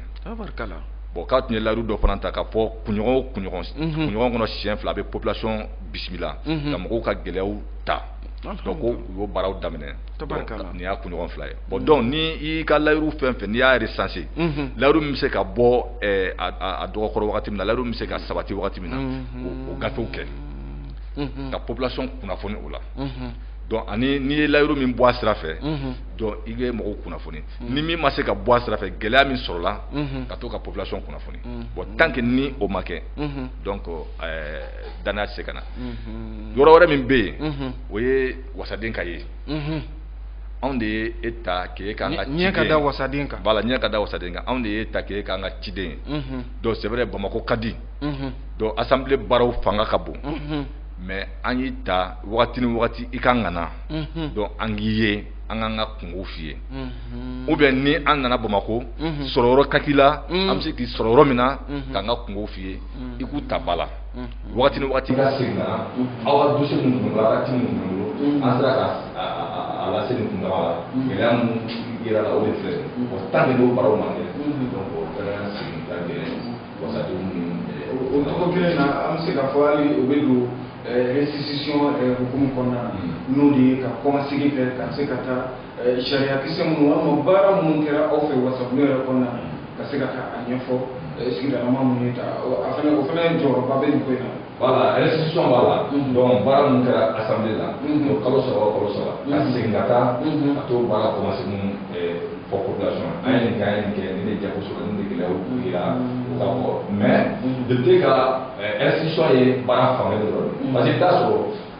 bon k'a tun ye layidu dɔ fana ta ka fɔ kunɲɔgɔn o kunɲɔgɔn kunɲɔgɔn kɔnɔ siɲɛ fila a bɛ population bisimila ka mɔgɔw ka gɛlɛyaw ta donc ko u y'o baaraw daminɛ nin y'a kunɲɔgɔn fila ye bon donc ni i y'i ka layidu fɛn fɛn n'i y'a recenser layidu min bɛ se ka bɔ a dɔgɔkɔrɔ wagati min na layidu min bɛ se ka sabati wagati min na o gafew kɛ ka population kunnafoni o la donc ani n'i ye layidu min bɔ a sira fɛ donc i bɛ mɔgɔw kunnafoni ni min ma se ka bɔ a sira fɛ gɛlɛya min sɔrɔla ka to ka population kunnafoni bon tant que ni o ma kɛ donc danaya tɛ se ka na yɔrɔ wɛrɛ min bɛ yen o ye wasaden ka ye anw de ye e ta k'e k'an ka ɲɛ ka da wasaden kan voilà ɲɛ ka da wasaden kan anw de ye e ta k'e k'an ka ciden ye donc c'est vrai Bamakɔ ka di donc assemblée baaraw fanga ka bon. mais an y'i ta waati ni waati i kan ka na donc an k'i ye an k'an ka kunko f'i ye ou bien ni an nana bamakɔ sɔrɔyɔrɔ ka k'i la an bɛ se k'i sɔrɔ yɔrɔ min na k'an ka kunko f'i ye i k'u ta ba la waati ni waati ka segin na aw ka dossier minnu tun waati minnu tun bolo an sera ka a lase nin kun la gɛlɛya minnu yɛrɛ la o de fɛ o tan de' barow man kɛ donc o fɛn sigi ka gɛlɛn wasadenw ni ɛɛ. o cogo kelen na an bɛ se ka fɔ hali o bɛ don ɛɛ restitution ɛɛ hukumu kɔnɔna na. n'o de ye ka kɔmasegin kɛ ka se ka taa ɛɛ sariya kisɛ minnu walima baara minnu kɛra aw fɛ wasadenw yɛrɛ kɔnɔna na ka se ka taa a ɲɛfɔ sigidalamaa minnu y'i ta a fana o fana jɔyɔrɔba bɛ nin ko in na. voilà restitution b'a la donc baara min kɛra assemblée la o kalo saba o kalo saba ka segin ka taa a t'o baara ko misɛnninw fɔ population na an ye nin kɛ an ye nin kɛ nin de jago sɔrɔ nin de gɛlɛyaw k'u yira u ka bɔ mais député ka restitution ye baara fan kelen dɔrɔn parce que i bɛ taa sɔrɔ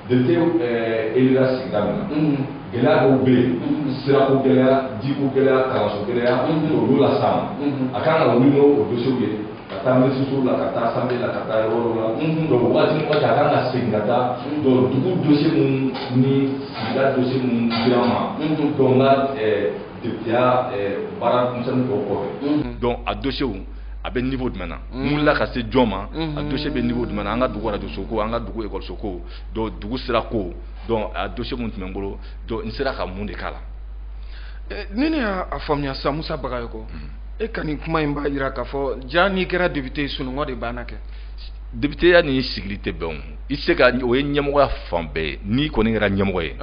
Député eh, élira sigida min na mhm. gɛlɛya dɔw bɛ yen mhm. sirako gɛlɛya jiko gɛlɛya kalanso gɛlɛya mhm. olu las'a ma a kan ka wuli n'o dossierw ye ka taa minisiriso la ka taa assemblée la ka taa yɔrɔ dɔ la donc waati ni waati a kan ka segin ka taa donc dugu dossier minnu ni sigida dossier minnu dira n ma donc n ka eh, depiteya eh, baara misɛnnin tɔw kɔfɛ donc a dossierw a bɛ niveau jumɛn na n wulila ka se jɔn ma a dossier bɛ niveau jumɛn na an ka dugu arajoso ko an ka dugu ekɔliso ko donc dugu sira ko donc a dossier minnu tun bɛ n bolo donc n sera ka mun de k'a la. ni ne y'a faamuya sisan musa bagayoko e ka nin kuma in b'a jira k'a fɔ ja n'i kɛra député ye sunɔgɔ de banna kɛ. députéya ni sigili tɛ bɛn o i se ka o ye ɲɛmɔgɔya fan bɛɛ ye n'i kɔni kɛra ɲɛmɔgɔ ye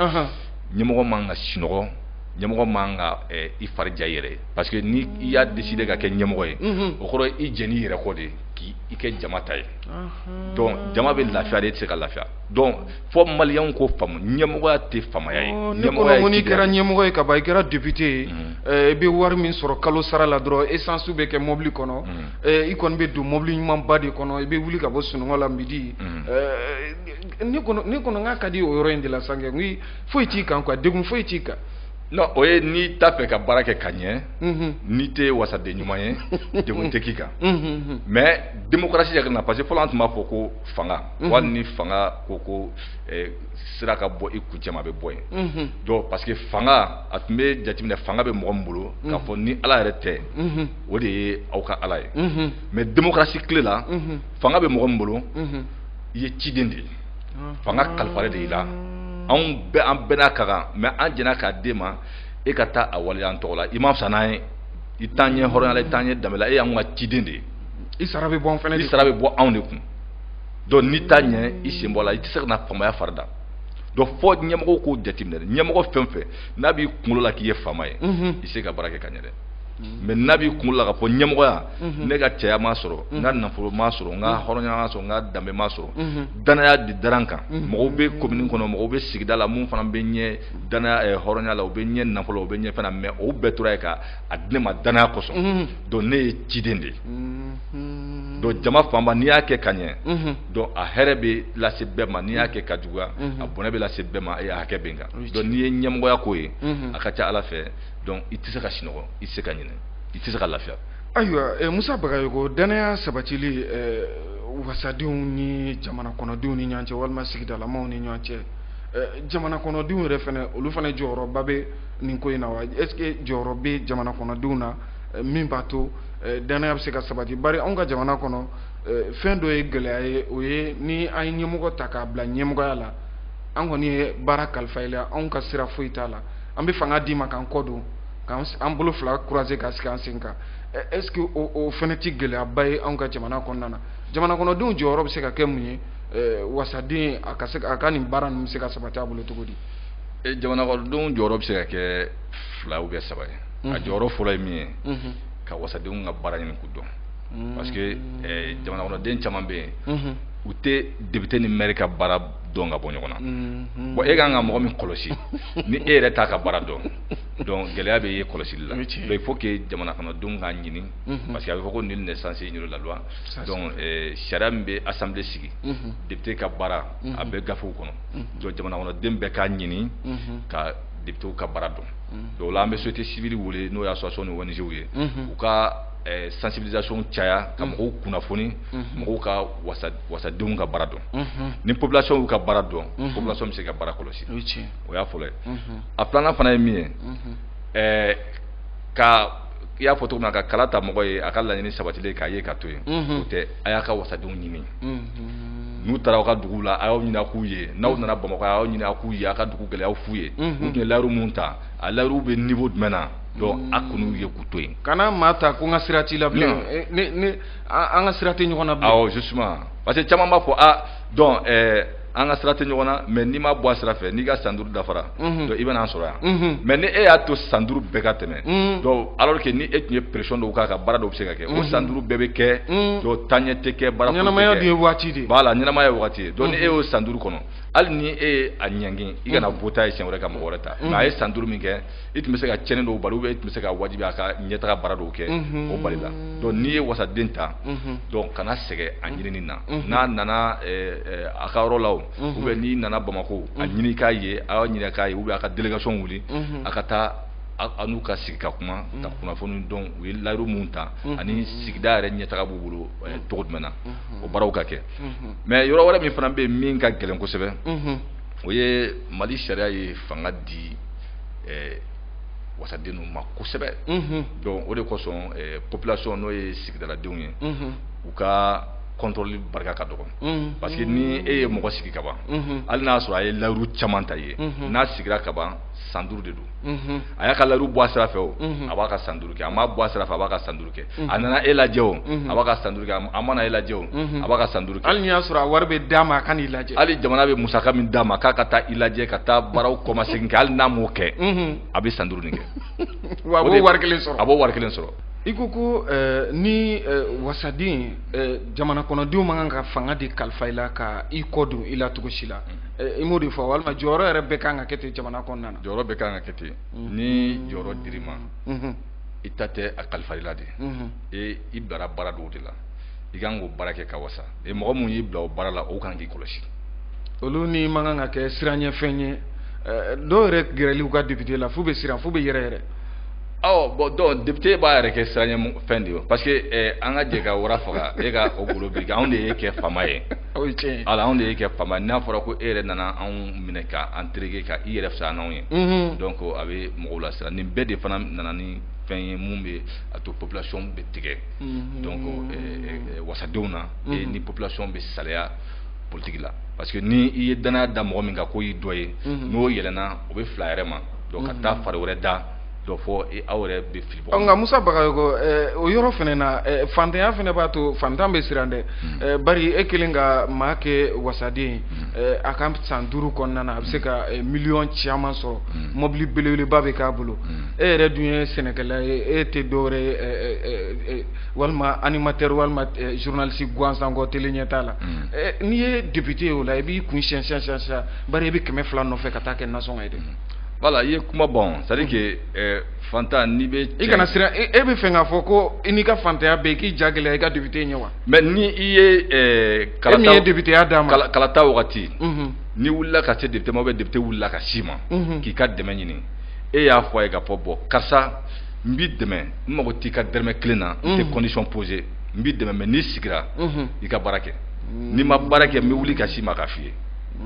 ɲɛmɔgɔ man ka sunɔgɔ ɲɛmɔgɔ man ka i fari ja i yɛrɛ ye. parce que ni i y'a décider ka kɛ ɲɛmɔgɔ ye o kɔrɔ i jɛnna i yɛrɛ kɔ de k'i i kɛ jama ta ye donc jama bɛ lafiya de e tɛ se ka lafiya donc fɔ maliyɛnw k'o faamu ɲɛmɔgɔya tɛ faamaya ye ne kɔnɔ o n'i kɛra ɲɛmɔgɔ ye kaban i kɛra député ye i bɛ wari min sɔrɔ kalo sara la dɔrɔn essence bɛ kɛ mobili kɔnɔ i kɔni bɛ don mobili ɲumanba de kɔnɔ i bɛ wuli ka bɔ sunɔgɔ la midi ne kɔnɔ ne kɔnɔ n k'a ka di o yɔrɔ in de la sa n ko foyi t'i kan quoi degun foyi t'i kan non o ye n'i t'a fɛ ka baara kɛ ka ɲɛ mhm. n'i tɛ wasaden ɲuman ye degun tɛ k'i kan mhm. mais démocratie yɛrɛ na parce que fɔlɔ an tun b'a fɔ ko fanga mhm. wali ni fanga ko ko eh, sira ka bɔ i kuncɛ ma a bɛ bɔ yen donc parce que fanga a tun bɛ jateminɛ fanga bɛ mɔgɔ min bolo k'a fɔ ni ala yɛrɛ tɛ o de ye aw ka ala ye mais démocratie tile la fanga bɛ mɔgɔ min bolo i ye ciden de ye fanga kalifalen de i la anw bɛ an bɛɛ n'a ka kan mɛ an jɛnna k'a d'i ma e ka taa a waleya an tɔgɔ la i man fisa n'an ye i t'an ɲɛ hɔrɔnya la i t'an ɲɛ danbe la e y'an ka ciden de ye i sara bɛ bɔ an fana i sara bɛ bɔ anw de kun donc n'i t'a ɲɛ i sen bɔ a la i tɛ se ka na faamaya fari da donc fo ɲɛmɔgɔw k'o jateminɛ ɲɛmɔgɔ fɛn o fɛn n'a b'i kunkolo la k'i ye faama ye i tɛ se ka baara kɛ ka ɲɛ dɛ Mhm. mɛ n'a b'i kun la ka fɔ ɲɛmɔgɔya mhm. ne ka cɛya ma sɔrɔ n ka mhm. nafolo ma sɔrɔ n ka hɔrɔnya ma sɔrɔ n ka danbe ma sɔrɔ dannaya de dara n kan mɔgɔw bɛ komini kɔnɔ mɔgɔw bɛ sigida la minnu fana bɛ n ɲɛ dannaya eh, hɔrɔnya la u bɛ n ɲɛ nafolo u bɛ n ɲɛ fana mɛ o bɛɛ tora yen ka a di ne ma dannaya kosɔn donc ne ye ciden de ye donc jama fanba n'i y'a kɛ ka ɲɛ donc a hɛrɛ bɛ lase bɛɛ ma n'i y'a kɛ ka juguya a bɔnɛ bɛ lase bɛɛ ma a hakɛ bɛ n kan donc n'i ye ɲɛmɔgɔya ko ye a ka ca ala fɛ donc i tɛ se ka sinɔgɔ i tɛ se ka ɲinɛ i tɛ se ka lafiya ayiwa eh, musa bagayoko dannaya sabatili eh, wasadenw ni jamana kɔnɔdenw ni ɲɔgɔn cɛ walima sigidalamaw ni ɲɔgɔn cɛ eh, jamana kɔnɔdenw yɛrɛ fana olu fana jɔyɔrɔba bɛ nin ko in na wa est ce que jɔyɔrɔ bɛ jamana kɔnɔdenw na eh, min b'a to eh, dannaya bɛ se ka sabati bari anw ka jamana kɔnɔ eh, fɛn dɔ ye gɛlɛya ye o ye ni an ye ɲɛmɔgɔ ta k'a bila ɲɛmɔgɔya la an kɔni ye baara kalifa i la anw ka sira foyi t'a la an bɛ fanga d'i ma k'an kɔ don k'an an bolo fila croiser ka sigi an sen kan est ce que o o fana tɛ gɛlɛyaba ye anw ka jamana kɔnɔna na jamana kɔnɔdenw jɔyɔrɔ bɛ se ka kɛ mun ye wasaden a ka se a ka nin baara ninnu bɛ se ka sabati a bolo cogo di. jamana kɔnɔdenw jɔyɔrɔ bɛ se ka kɛ fila ou bien saba ye. a jɔyɔrɔ fɔlɔ ye min ye. ka wasadenw ka baara ɲini k'u dɔn. parce que jamana kɔnɔden caman bɛ yen. u tɛ député ni maire ka baara dɔn ka bɔ ɲɔgɔn na mm-hmm. bon e ka kan ka mɔgɔ min kɔlɔsi ni e yɛrɛ t'a ka baara dɔn donc gɛlɛya bɛ yen kɔlɔsili la donc il faut que jamana kɔnɔdenw k'a ɲini mm-hmm. parce que a bɛ fɔ ko nul n'est censé ignorer la loi donc euh, sariya min bɛ assemblée sigi mm-hmm. député ka baara a bɛ gafew kɔnɔ donc jamana kɔnɔden bɛɛ k'a ɲini ka députés ka baara dɔn donc o la an bɛ société civile wele n'o ye association ni ONG ye u ka eh, sensibilisation caya ka mɔgɔw kunnafoni mɔgɔw ka wasa wasadenw ka baara dɔn Mhm. ni population y'u ka baara dɔn Mhm. population bɛ se ka baara kɔlɔsi o ye tiɲɛ ye. o y'a fɔlɔ ye Mhm. a filanan fana ye min ye Mhm. eh, ka i y'a fɔ cogo min na ka kala ta mɔgɔ ye a ka laɲini sabatilen k'a ye ka to yen Mhm. o tɛ a y'a ka wasadenw ɲini Mhm. n'u taara aw ka duguw la a y'u ɲini a k'u ye n'aw nana bamakɔ a y'u ɲini a k'u ye a ka dugu gɛlɛyaw f'u ye Mhm. u tun ye layiru minnu ta a layiruw bɛ niveau jumɛn na donc a kun ye k'u to yen kana maa ta ko n ka sira t'i la bilen Non. Eh, ne ne an an ka sira tɛ ɲɔgɔn na bilen awɔ justement parce que caman b'a fɔ a donc ɛɛ an ka sira tɛ ɲɔgɔn na mais n'i m'a bɔ a sira fɛ n'i ka san duuru dafara Mhm. donc i bɛna an sɔrɔ yan Mhm. mais ni e y'a to san duuru bɛɛ ka tɛmɛ Mhm. donc alors que ni e tun ye pression dɔw k'a kan baara dɔw bɛ se ka kɛ o san duuru bɛɛ bɛ kɛ Mhm. donc taaɲɛ tɛ kɛ baara foyi tɛ kɛ. ɲɛnamaya dun ye waati de ye Voilà, ɲɛnamaya ye wagati ye donc ni e y'o san duuru kɔnɔ hali ni e ye a ɲangi i kana wote a ye siɲɛ wɛrɛ ka mɔgɔ wɛrɛ ta mais a ye san duuru min kɛ i tun bɛ se ka cɛnni dɔw bali e tun bɛ se k'a wajibi a ka ɲɛtaa baara dɔw kɛ o balila donc n'i ye wasaden ta donc kana sɛgɛn a ɲinini na n'a nana a ka yɔrɔ la u bɛ n'i nana bamakɔ a ɲini k'a ye aw ɲini k'a ye u bɛ a ka délégation wuli a ka taa aw n'u ka sigi ka kuma ka kunnafoni dɔn u ye layiru min ta ani sigida yɛrɛ ɲɛtaa b'u bolo cogo jumɛn na o barow ka kɛ mais yɔrɔ wɛrɛ min fana bɛ min ka gɛlɛn kosɛbɛ o ye mali sariya ye fanga di eh, wasadenw ma kosɛbɛ mhm. donc o de kosɔn eh, population n'o ye sigidaladenw ye mhm. u ka kɔntɔrɔli barika ka dɔgɔn mhm. parce que ni e ye mɔgɔ sigi ka ban hali n'a sɔrɔ a ye layiru caman ta ye n'a sigira ka ban san duuru de don unhun, a y'a ka layiru bɔ a sira fɛ o, unhun, a b'a ka san duuru kɛ, a m'a bɔ a sira fɛ a b'a ka san duuru kɛ, unhun, a nana e lajɛ o, unhun, a b'a ka san duuru kɛ, a ma na e lajɛ o, unhun, a b'a ka san duuru kɛ, hali n'i y'a sɔrɔ a wari bɛ d'a ma a ka n'i lajɛ, hali jamana bɛ musaka min d'a ma k'a ka taa i lajɛ ka taa baaraw kɔmasegin kɛ hali n'a m'o kɛ, unhun, a bɛ san duuru nin kɛ, wa a b'o wari kelen sɔrɔ, a b'o wari kelen sɔrɔ. I ko ko ɛɛ ni ɛɛ wasaden ɛɛ jamana kɔnɔdenw man kan ka fanga de kalifa i la ka i kɔ don i la cogo si la, unhun, i m'o de fɔ walima jɔyɔrɔ yɛrɛ bɛɛ ka kan ka kɛ ten jamana kɔnɔna na. jɔyɔrɔ bɛɛ ka kan ka kɛ ten ni jɔyɔrɔ dir'i ma i ta tɛ a kalifar'i la de e i bilara baara dɔ de la i kan k'o baara kɛ ka wasa e mɔgɔ minnu y'i bila o baara la olu kan k'i kɔlɔsi olu ni man kan ka kɛ siranyɛfɛn ye dɔw yɛrɛ gɛrɛli u ka député la fo u bɛ siran fo u bɛ yɛrɛyɛrɛ awɔ bon donc député b'a yɛrɛ kɛ siranyɛfɛn de ye parce que an ka jɛ ka wara faga e ka o golo biri anw de y'e kɛ faama ye Ala anw de y'e kɛ faama n'a fɔra ko e yɛrɛ nana anw minɛ k'an tereke ka i yɛrɛ fisa n'anw ye donc a bɛ mɔgɔw lasiran nin bɛɛ de fana nana ni fɛn ye minnu bɛ a to population bɛ tigɛ wasadenw na ni population bɛ salaya politiki la parce que ni i ye dannaya da mɔgɔ min kan k'o y'i dɔ ye n'o yɛlɛna o bɛ fili a yɛrɛ ma ka taa fari wɛrɛ da donc fo aw yɛrɛ bɛ fili bon. nka musa bagayogo eh, o yɔrɔ fana na eh, fantanya fana b'a to fantan bɛ siran dɛ hmm. eh, bari e kelen ka maa kɛ wasaden hmm. a ka san duuru kɔnɔna na a bɛ se ka miliyɔn caman sɔrɔ hmm. mɔbili belebeleba bɛ k'a bolo e yɛrɛ dun ye sɛnɛkɛla ye e tɛ dɔwɛrɛ ye walima animateur walima journaliste gansan kɔ tele ɲɛ t'a la n'i ye député ye o la i b'i kun siyɛn siyɛn siyɛn bari i bɛ kɛmɛ fila nɔfɛ ka taa kɛ nasɔngɔ ye dɛ. Voilà i ye kuma bon c'est à dire que ɛɛ fantan n'i bɛ cɛ, i kana siran e b'a fɛ k'a fɔ ko i n'i ka fantanya bɛɛ i k'i ja gɛlɛya i ka député ɲɛ wa? Mais ni i ye ɛɛ kalata, e min ye députéya d'a ma, kalata wagati, unhun, n'i wulila ka se député ma ou bien député wulila ka s'i ma, unhun, k'i ka dɛmɛ ɲini e y'a fɔ a ye k'a fɔ bon karisa n b'i dɛmɛ n mago t'i ka dɛrɛmɛ kelen na, unhun, n tɛ condition poser n b'i dɛmɛ mais n'i sigira, unhun, i ka baara kɛ, n'i ma baara kɛ n bɛ wuli ka s'i ma k'a f'i ye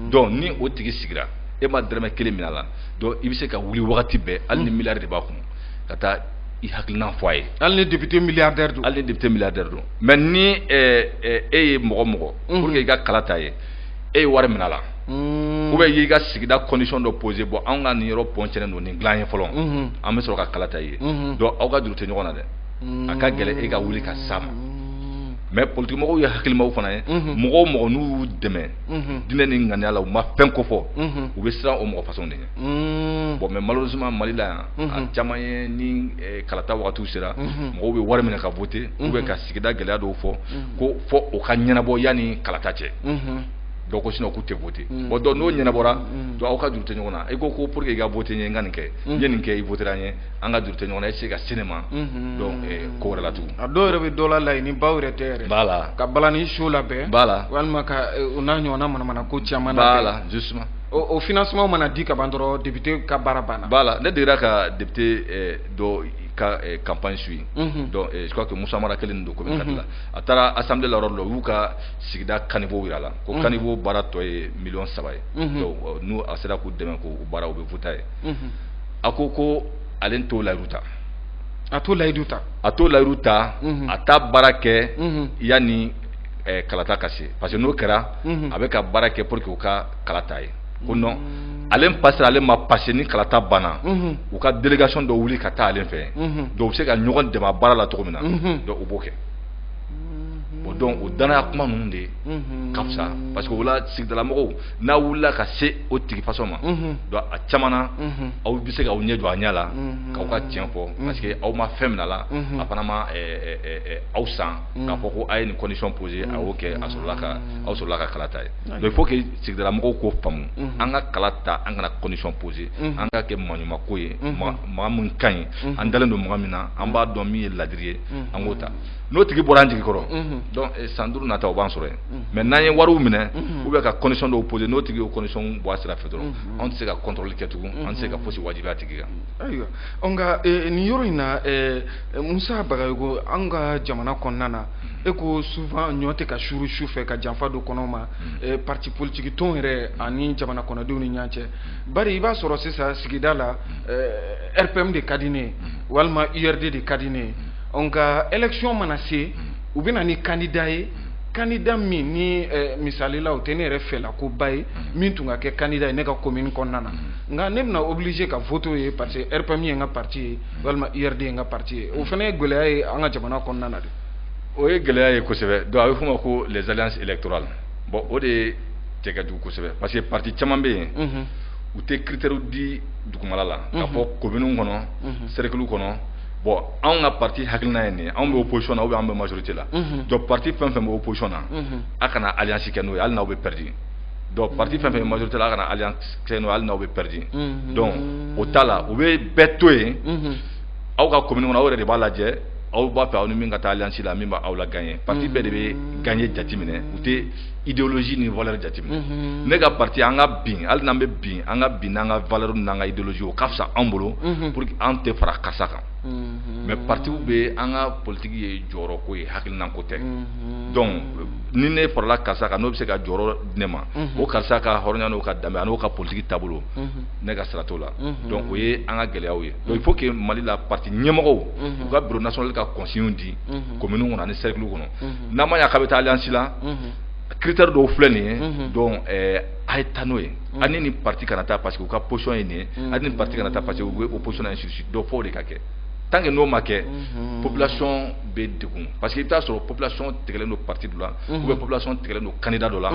donc ni o tigi sigira e ma dɛrɛmɛ kelen minɛ a la donc i bɛ se ka wuli wagati bɛɛ hali ni milliard de b'a kun ka taa i hakilina fɔ a ye hali ni député mi hali ni député milliardaire don mais ni e ye mɔgɔ mɔgɔ pour que i ka kala ta a ye e ye wari minɛ a la ou bien i y'i ka sigida condition dɔ poser bon an ka nin yɔrɔ pont cɛnnen don nin dila an ye fɔlɔ an bɛ sɔrɔ ka kalata i ye donc aw ka juru tɛ ɲɔgɔn na dɛ a ka gɛlɛn e ka wuli ka s'a ma mais politigimɔgɔw ye hakilimaw fana ye mɔgɔ o mɔgɔ n'u y'u dɛmɛ unhun, diinɛ ni ŋaniya la u ma fɛn kofɔ, unhun, u bɛ siran o mɔgɔ façon de ɲɛ, unn, bon mais malheureusement Mali la yan, unhun, a caman ye ni kalata wagatiw sera, unhun, mɔgɔw bɛ wari minɛ ka voter, unhun, ou bien ka sigida gɛlɛya dɔw fɔ, unhun, ko fo o ka ɲɛnabɔ yanni kalata cɛ, unhun, donc sinon k'u tɛ voter, unhun, bon donc n'o ɲɛnabɔra, unhun, donc aw ka juru tɛ ɲɔgɔn na, i ko ko pour que i ka voter n ye n ka nin kɛ, unhun, n ye nin kɛ i voter la n ye an ka juru tɛ ɲɔgɔn na e tɛ se ka se ne ma donc eh, ko wɛrɛ la tugun a dɔw yɛrɛ bɛ dɔ la laɲini baw yɛrɛ tɛ yɛrɛ voilà ka balani show labɛn voilà walima ka eh, o n'a ɲɔgɔnna manamana ko caman na voilà justement o o financement mana di ka ban dɔrɔn député ka baara banna voilà ne degera ka député eh, dɔ ka eh, campagne suivre Mhm. donc eh, je crois que Moussa Mara kelen de don commune quatre la a taara assemblée la yɔrɔ dɔ la u y'u ka sigida caniveau jira a la ko caniveau baara tɔ ye miliyɔn saba ye Mhm. donc eh, ni a sera k'u dɛmɛ k'o baara u bɛ voter a ye a ko ko ale t'o layidu ta a t'o layidu ta a t'o layidu ta a t'a baara kɛ yanni kalata ka se parce que n'o kɛra a bɛ ka baara kɛ pour que u ka kalata a ye ko donc ale pasera ale ma pase ni kalata banna u ka délégation dɔ wuli ka taa ale fɛ donc u bɛ se ka ɲɔgɔn dɛmɛ baara la cogo min na donc u b'o kɛ donc o dannaya kuma ninnu de ka fisa parce que o la sigidalamɔgɔw n'a wulila ka se o tigi façon ma donc a caman na aw bɛ se k'aw ɲɛ jɔ a ɲɛ la k'aw ka tiɲɛ fɔ parce que aw ma fɛn mina la a fana ma aw san k'a fɔ ko a ye nin condition poser a y'o kɛ aw sɔrɔla ka kalata a ye mais il faut que sigidalamɔgɔw k'o faamu an ka kala ta an kana condition poser an k'a kɛ maa ɲuman ko ye maa min ka ɲi an dalen don mɔgɔ min na an b'a dɔn min ye laadiri ye an k'o ta n'o tigi bɔra an jigi kɔrɔ donc san duuru nata o b'an sɔrɔ yen mais n'an ye wari minɛ u bɛ ka condition dɔw pose n'o tigi ye condition bɔ a sira fɛ dɔrɔn anw tɛ se ka contrôle kɛ tugun an tɛ se ka fosi wajibiya tigi kan ayiwa nka nin yɔrɔ in na musa bagayoko an ka jamana kɔnɔna na i ko souvent ɲɔ tɛ ka suuru su fɛ ka janfa don kɔnɔ ma parti politique tɔn yɛrɛ ani jamana kɔnɔdenw ni ɲɔgɔn cɛ bari i b'a sɔrɔ sisan sigida la rpm de ka di ne walima urd de ka di ne nka élection mana se u bɛ na ni kandida ye kandida min ni eh, misalila o tɛ ne yɛrɛ fɛla ko ba ye mm-hmm. min tun ka kɛ kandida ye ne ka komini kɔnɔna na mm-hmm. nka ne bɛna obligé ka vote ye parce que rpm ye n ka parti ye mm-hmm. walima urd ye n ka parti ye o fana ye gɛlɛya ye an ka jamana kɔnɔna na de o ye gɛlɛya ye kosɛbɛ donc a bɛ f'o ma ko les alliances électorales bon o de ye cɛ ka jugu kosɛbɛ parce que parti caman bɛ yen u tɛ critère di dugumala la k'a fɔ kominiw kɔnɔ cercle kɔnɔ bon anw ka parti hakilina ye nin anw bɛ opposition na ou bien an bɛ majorité la donc parti fɛn fɛn bɛ opposition na a kana alliance kɛ n'o ye hali n'aw bɛ pɛridi donc parti fɛn fɛn bɛ majorité la a kana alliance kɛ n'o ye hali n'aw bɛ pɛridi donc o t'a la u bɛ bɛɛ to yen aw ka commune kɔnɔ aw yɛrɛ de b'a lajɛ aw b'a fɛ aw ni min ka taa alliance la min b'aw lagagner parti bɛɛ de bɛ gagner jateminɛ u tɛ idéologie ni valeur jateminɛ unhun ne ka parti an ka bin hali n'an bɛ bin an ka bin n'an ka valeur n'an ka idéologie o ka fisa an bolo unhun pour que an tɛ fara karisa kan unhun mais partiw bɛɛ an ka politique ye jɔyɔrɔ ko ye hakilina ko tɛ unhun donc ni ne farala karisa kan n'o bɛ se ka jɔyɔrɔ di ne ma Mhm. o karisa ka hɔrɔnya n'o ka danbe an'o ka politique taabolo unhun ne ka sira t'o la Mhm. donc o ye an ka gɛlɛyaw ye donc il faut que mali la parti ɲɛmɔgɔw Mhm. u ka bureau national ka consignes di Mhm. commune kɔnɔ ani cercle kɔnɔ Mhm. n'a ma ɲɛ k'a bɛ taa alliance la critère dɔw filɛ nin ye donc a ye taa n'o ye a ni nin parti kana taa parce que u ka position ye nin ye a ni nin parti kana taa parce que u bɛ opposition na ainsi de suite donc fo o de ka kɛ tant que n'o ma kɛ population bɛ degun parce que i bɛ taa sɔrɔ population tigɛlen don parti dɔ la ou bien population tigɛlen don candidat dɔ la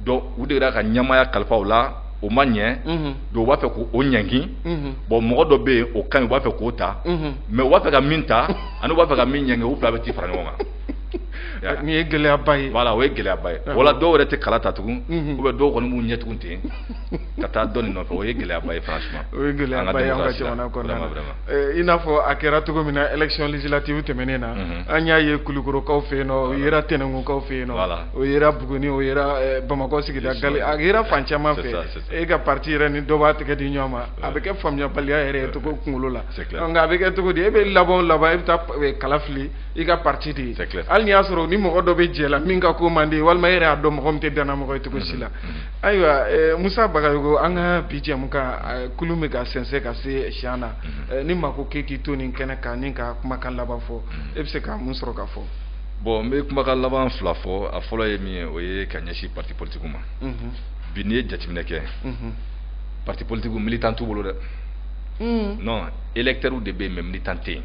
donc u degera ka ɲɛmaaya kalifa u la o ma ɲɛ donc u b'a fɛ k'o ɲangi bon mɔgɔ dɔ bɛ yen o ka ɲi u b'a fɛ k'o ta mais u b'a fɛ ka min ta ani u b'a fɛ ka min ɲangi u fila bɛ t'i fara ɲɔgɔn kan nin ye gɛlɛyaba ye voilà o ye gɛlɛyaba ye voilà dɔw yɛrɛ tɛ kala ta tugun u bɛ dɔw kɔni b'u ɲɛ tugu ten ka taa dɔ nɔfɛ o ye gɛlɛyaba ye franchement o ye gɛlɛyaba ye an ka jamana kɔnɔna na i n'a fɔ a kɛra cogo min na élection législative tɛmɛnen na an y'a ye kulukorokaw fɛ yen nɔ o yera tɛnɛnkunkaw fɛ yen nɔ o yera Buguni o yera Bamakɔ sigida a yera fan caman fɛ e ka pati yɛrɛ ni dɔ b'a tɛgɛ di ɲɔgɔn ma a bɛ kɛ faamuyabaliya yɛrɛ ye cogo kunkolo la nka a bɛ kɛ cogo di e bɛ laban laban e bɛ taa e, kala fili i ka pati de ye hali n'i y'a sɔrɔ ni mɔgɔ dɔ bɛ jɛ la min ka ko man di walima e yɛrɛ y'a dɔn mɔgɔ min tɛ dannamɔgɔ ye cogo si la mm-hmm. Mm-hmm. ayiwa e, musa bagayogo an ka bi jɛmukan e, kulun bɛ ka sɛnsɛn ka se siyan na mm-hmm. ni maa ko k'e k'i to nin kɛnɛ kan ni ka kumakan laban fɔ e bɛ se ka mun sɔrɔ ka fɔ bɔn n bɛ kumakan laban fila fɔ a fɔlɔ ye min ye o ye ka ɲɛsin pati politikiw ma bi n'i ye jateminɛ kɛ parti politique militant t'u bolo dɛ hmm. non électeurs de bɛ yen mais militant tɛ yen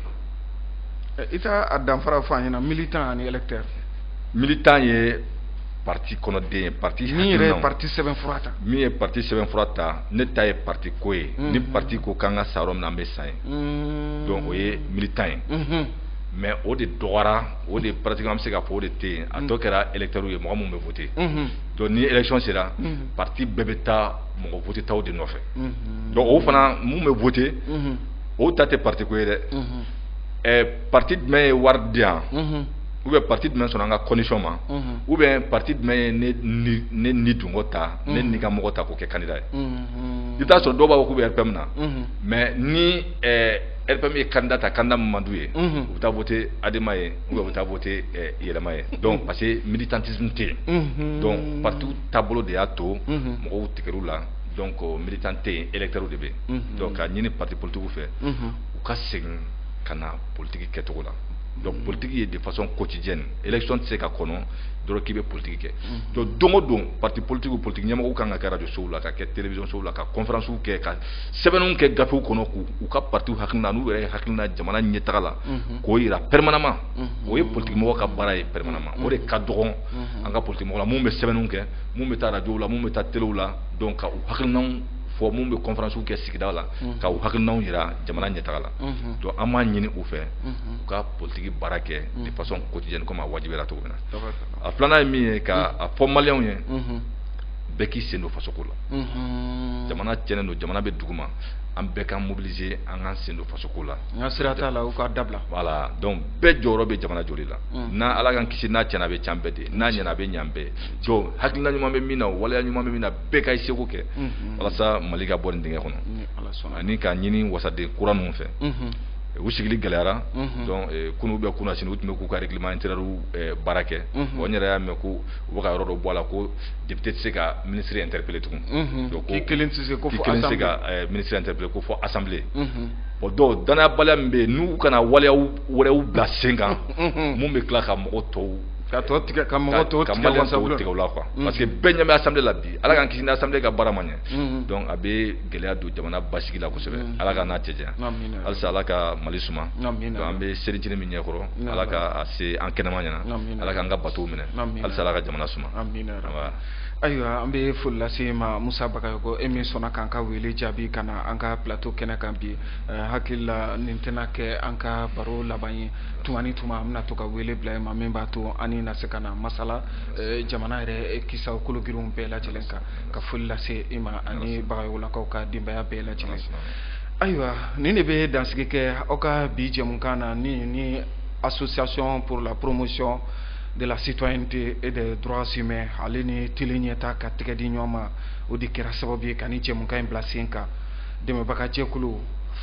eh, i t'a danfara fɔ an ɲɛna militant ani électeur militant ye parti kɔnɔden ye parti hakilinaw min yɛrɛ ye parti sɛbɛnfura ta min ye parti sɛbɛnfura ta ne ta ye parti ko ye hmm. ni parti ko k'an ka sa yɔrɔ min na an bɛ sa yen hmm. donc o ye militant ye mais o de dɔgɔyara o de pratiquement an bɛ se k'a fɔ o de tɛ yen a tɔ kɛra électeurs ye mɔgɔ minnu bɛ voter donc ni élection sera parti bɛɛ bɛ taa mɔgɔ votetaw de nɔfɛ donc olu fana minnu bɛ vote olu ta tɛ parti ko ye dɛ ɛɛ parti jumɛn ye wari di yan ou bien parti jumɛn sɔnna an ka condition ma ou bien parti jumɛn ye ne ni ne nidungɔ ta ne nikanmɔgɔ ta k'o kɛ candidat ye i bɛ t'a sɔrɔ dɔw b'a fɔ k'u bɛ RPM na mais ni ɛɛ RPM ye candidat ta candidat min man d'u ye u bɛ taa vote Adema ye u bɛ taa voter ɛ yɛlɛma ye donc parce que militantisme tɛ yen, unhun, donc partiw taabolo de y'a to mɔgɔw tigɛr'u la donc militant tɛ yen electeurs de bɛ yen, unhun, donc k'a ɲini parti politiques fɛ u ka segin ka na politique kɛcogo la donc politique ye de façon quotidienne élection tɛ se ka kɔnɔ dɔrɔn k'i bɛ politique kɛ donc don o don parti politique politique ɲɛmɔgɔw kan ka kɛ radio sow la ka kɛ télévision sow la ka conférences kɛ ka sɛbɛnniw kɛ gafew kɔnɔ k'u ka parti hakilina n'u yɛrɛ hakilina jamana ɲɛtaga la k'o jira permanemment mhm. o ye politikimɔgɔ ka baara ye permanemment o de ka dɔgɔn mhm. an ka politikimɔgɔw la minnu bɛ sɛbɛnniw kɛ minnu bɛ taa arajow la minnu bɛ taa telew la donc ka u hakilinanw fɔ minnu bɛ kɔnfaransiw kɛ sigida la mhm. ka u hakilinanw jira jamana ɲɛtaga la donc an b'a ɲini u fɛ u ka politiki baara kɛ de façon quotidienne comme a wajibiyara cogo min na a filanan ye min ye ka a fɔ maliyɛnw ye bɛɛ k'i sen don fasoko la jamana tiɲɛnen don jamana bɛ duguma an bɛɛ k'an mobiliser an k'an sen don fasoko la n ka sira t'a la u k'a dabila voilà donc bɛɛ jɔyɔrɔ bɛ jamana jɔli la mm. n'a ala k'an kisi n'a cɛnna a bɛ c'an bɛɛ de n'a ɲɛna a bɛ ɲ'an bɛɛ donc hakilina ɲuman bɛ min na waleya ɲuman bɛ min na bɛɛ ka i seko kɛ mm-hmm. walasa mali ka bɔ nin dingɛ kɔnɔ mm, ani k'a ɲini wasaden kura ninnu fɛ mm-hmm. eh, u sigili gɛlɛyara mm-hmm. donc eh, kunun ou bien kunasinin u tun bɛ k'u ka règlement intérieur eh, baara kɛ bon n yɛrɛ y'a mɛn ko u bɛ ka yɔrɔ dɔ bɔ a la ko député tɛ se ka ministre interpeller tugun donc k'i kelen tɛ se ka ministre interpeller ko fo assemblée o dɔw dannayabaliya min bɛ yen n'u kana waleya wɛrɛw bila sen kan minnu bɛ tila ka mɔgɔw tɔw ka tɔ tigɛ ka mɔgɔ tɔw tigɛ u la quoi parce que bɛɛ ɲɛ bɛ assemblée la bi Ala k'an kisi ni assemblée ka baara ma ɲɛ donc a bɛ gɛlɛya don jamana basigi la kosɛbɛ Ala k'an n'a cɛ janya halisa Ala ka Mali suma donc an bɛ selicinin min ɲɛkɔrɔ Ala k'a se an kɛnɛma ɲɛna Ala k'an ka batow minɛ halisa Ala ka jamana suma. ayiwa an bɛ foli lase e ma musa bagayoko e min sɔnna k'an ka wele jaabi ka na an ka plateau kɛnɛ kan bi eh, hakili la nin tɛna kɛ an ka baro laban ye tuma ni tuma an bɛna to ka wele bila e ma min b'a to an n'i na se ka na masala eh, jamana yɛrɛ kisa kologirinw bɛɛ lajɛlen kan ka foli lase e ma ani bagayokolakaw ka denbaya bɛɛ lajɛlen ayiwa nin de bɛ dansigi kɛ aw ka bi jɛmukan na ni ni association pour la promotion de la citoyenneté et des droits humains ale ni teleɲɛta ka tɛgɛ di ɲɔgɔn ma o de kɛra sababu ye ka nin jɛmukan in bila sen kan dɛmɛbaga jɛkulu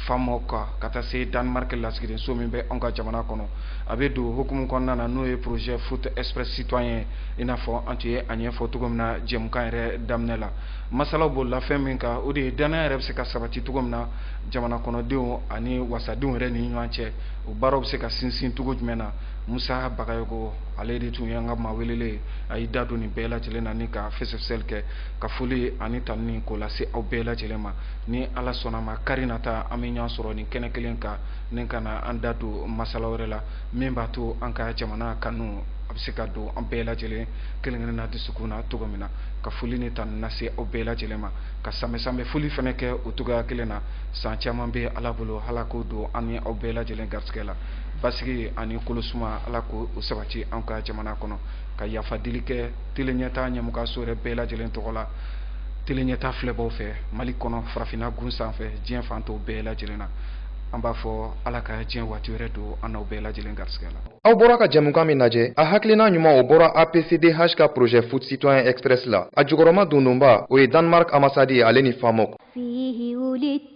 famoc ka taa se danemark lasigidenso min bɛ anw ka jamana kɔnɔ a bɛ don o hukumu kɔnɔna na n'o ye projet foot express citoyen i n'a fɔ an tun ye a ɲɛfɔ cogo min na jɛmukan yɛrɛ daminɛ la masala bolila fɛn min kan o de ye dannaya yɛrɛ bɛ se ka sabati cogo min na jamana kɔnɔdenw ani wasadenw yɛrɛ ni ɲɔgɔn cɛ o baaraw bɛ se ka sinsin cogo jumɛn na Musa Bagayoko ale de tun ye an ka maa welelen a y'i da don nin bɛɛ lajɛlen na ni ka fɛsɛfɛsɛli kɛ ka foli ani tanuni k'o lase aw bɛɛ lajɛlen ma ni Ala sɔnna a ma kari nata an bɛ ɲɔgɔn sɔrɔ nin kɛnɛ kelen kan ni ka na an da don masala wɛrɛ la min b'a to an ka jamana kanu a bɛ se ka don an bɛɛ lajɛlen kelen-kelenna dusukun na cogo min na ka foli ni tanuni lase aw bɛɛ lajɛlen ma ka sanbɛ-sanbɛ foli fana kɛ o cogoya kelen na san caman bɛ Ala bolo Ala k'o don an ni aw bɛɛ lajɛlen garisigɛ la basigi ani kolo suma ala k'o sabati an ka jamana kɔnɔ ka yafa deli kɛ teleɲɛta ɲɛmɔgɔso yɛrɛ bɛɛ lajɛlen tɔgɔ la teleɲɛta filɛbaw fɛ mali kɔnɔ farafinna gun sanfɛ diɲɛ fan tɔw bɛɛ lajɛlen na an b'a fɔ ala ka diɲɛ waati wɛrɛ don an n'aw bɛɛ lajɛlen garisigɛ la aw bɔra ka jɛmukan min lajɛ a hakilina ɲuman o bɔra apcdh ka projet foot citoyen express la a jukɔrɔmadondonba o ye danemark ambassade ale ni famoc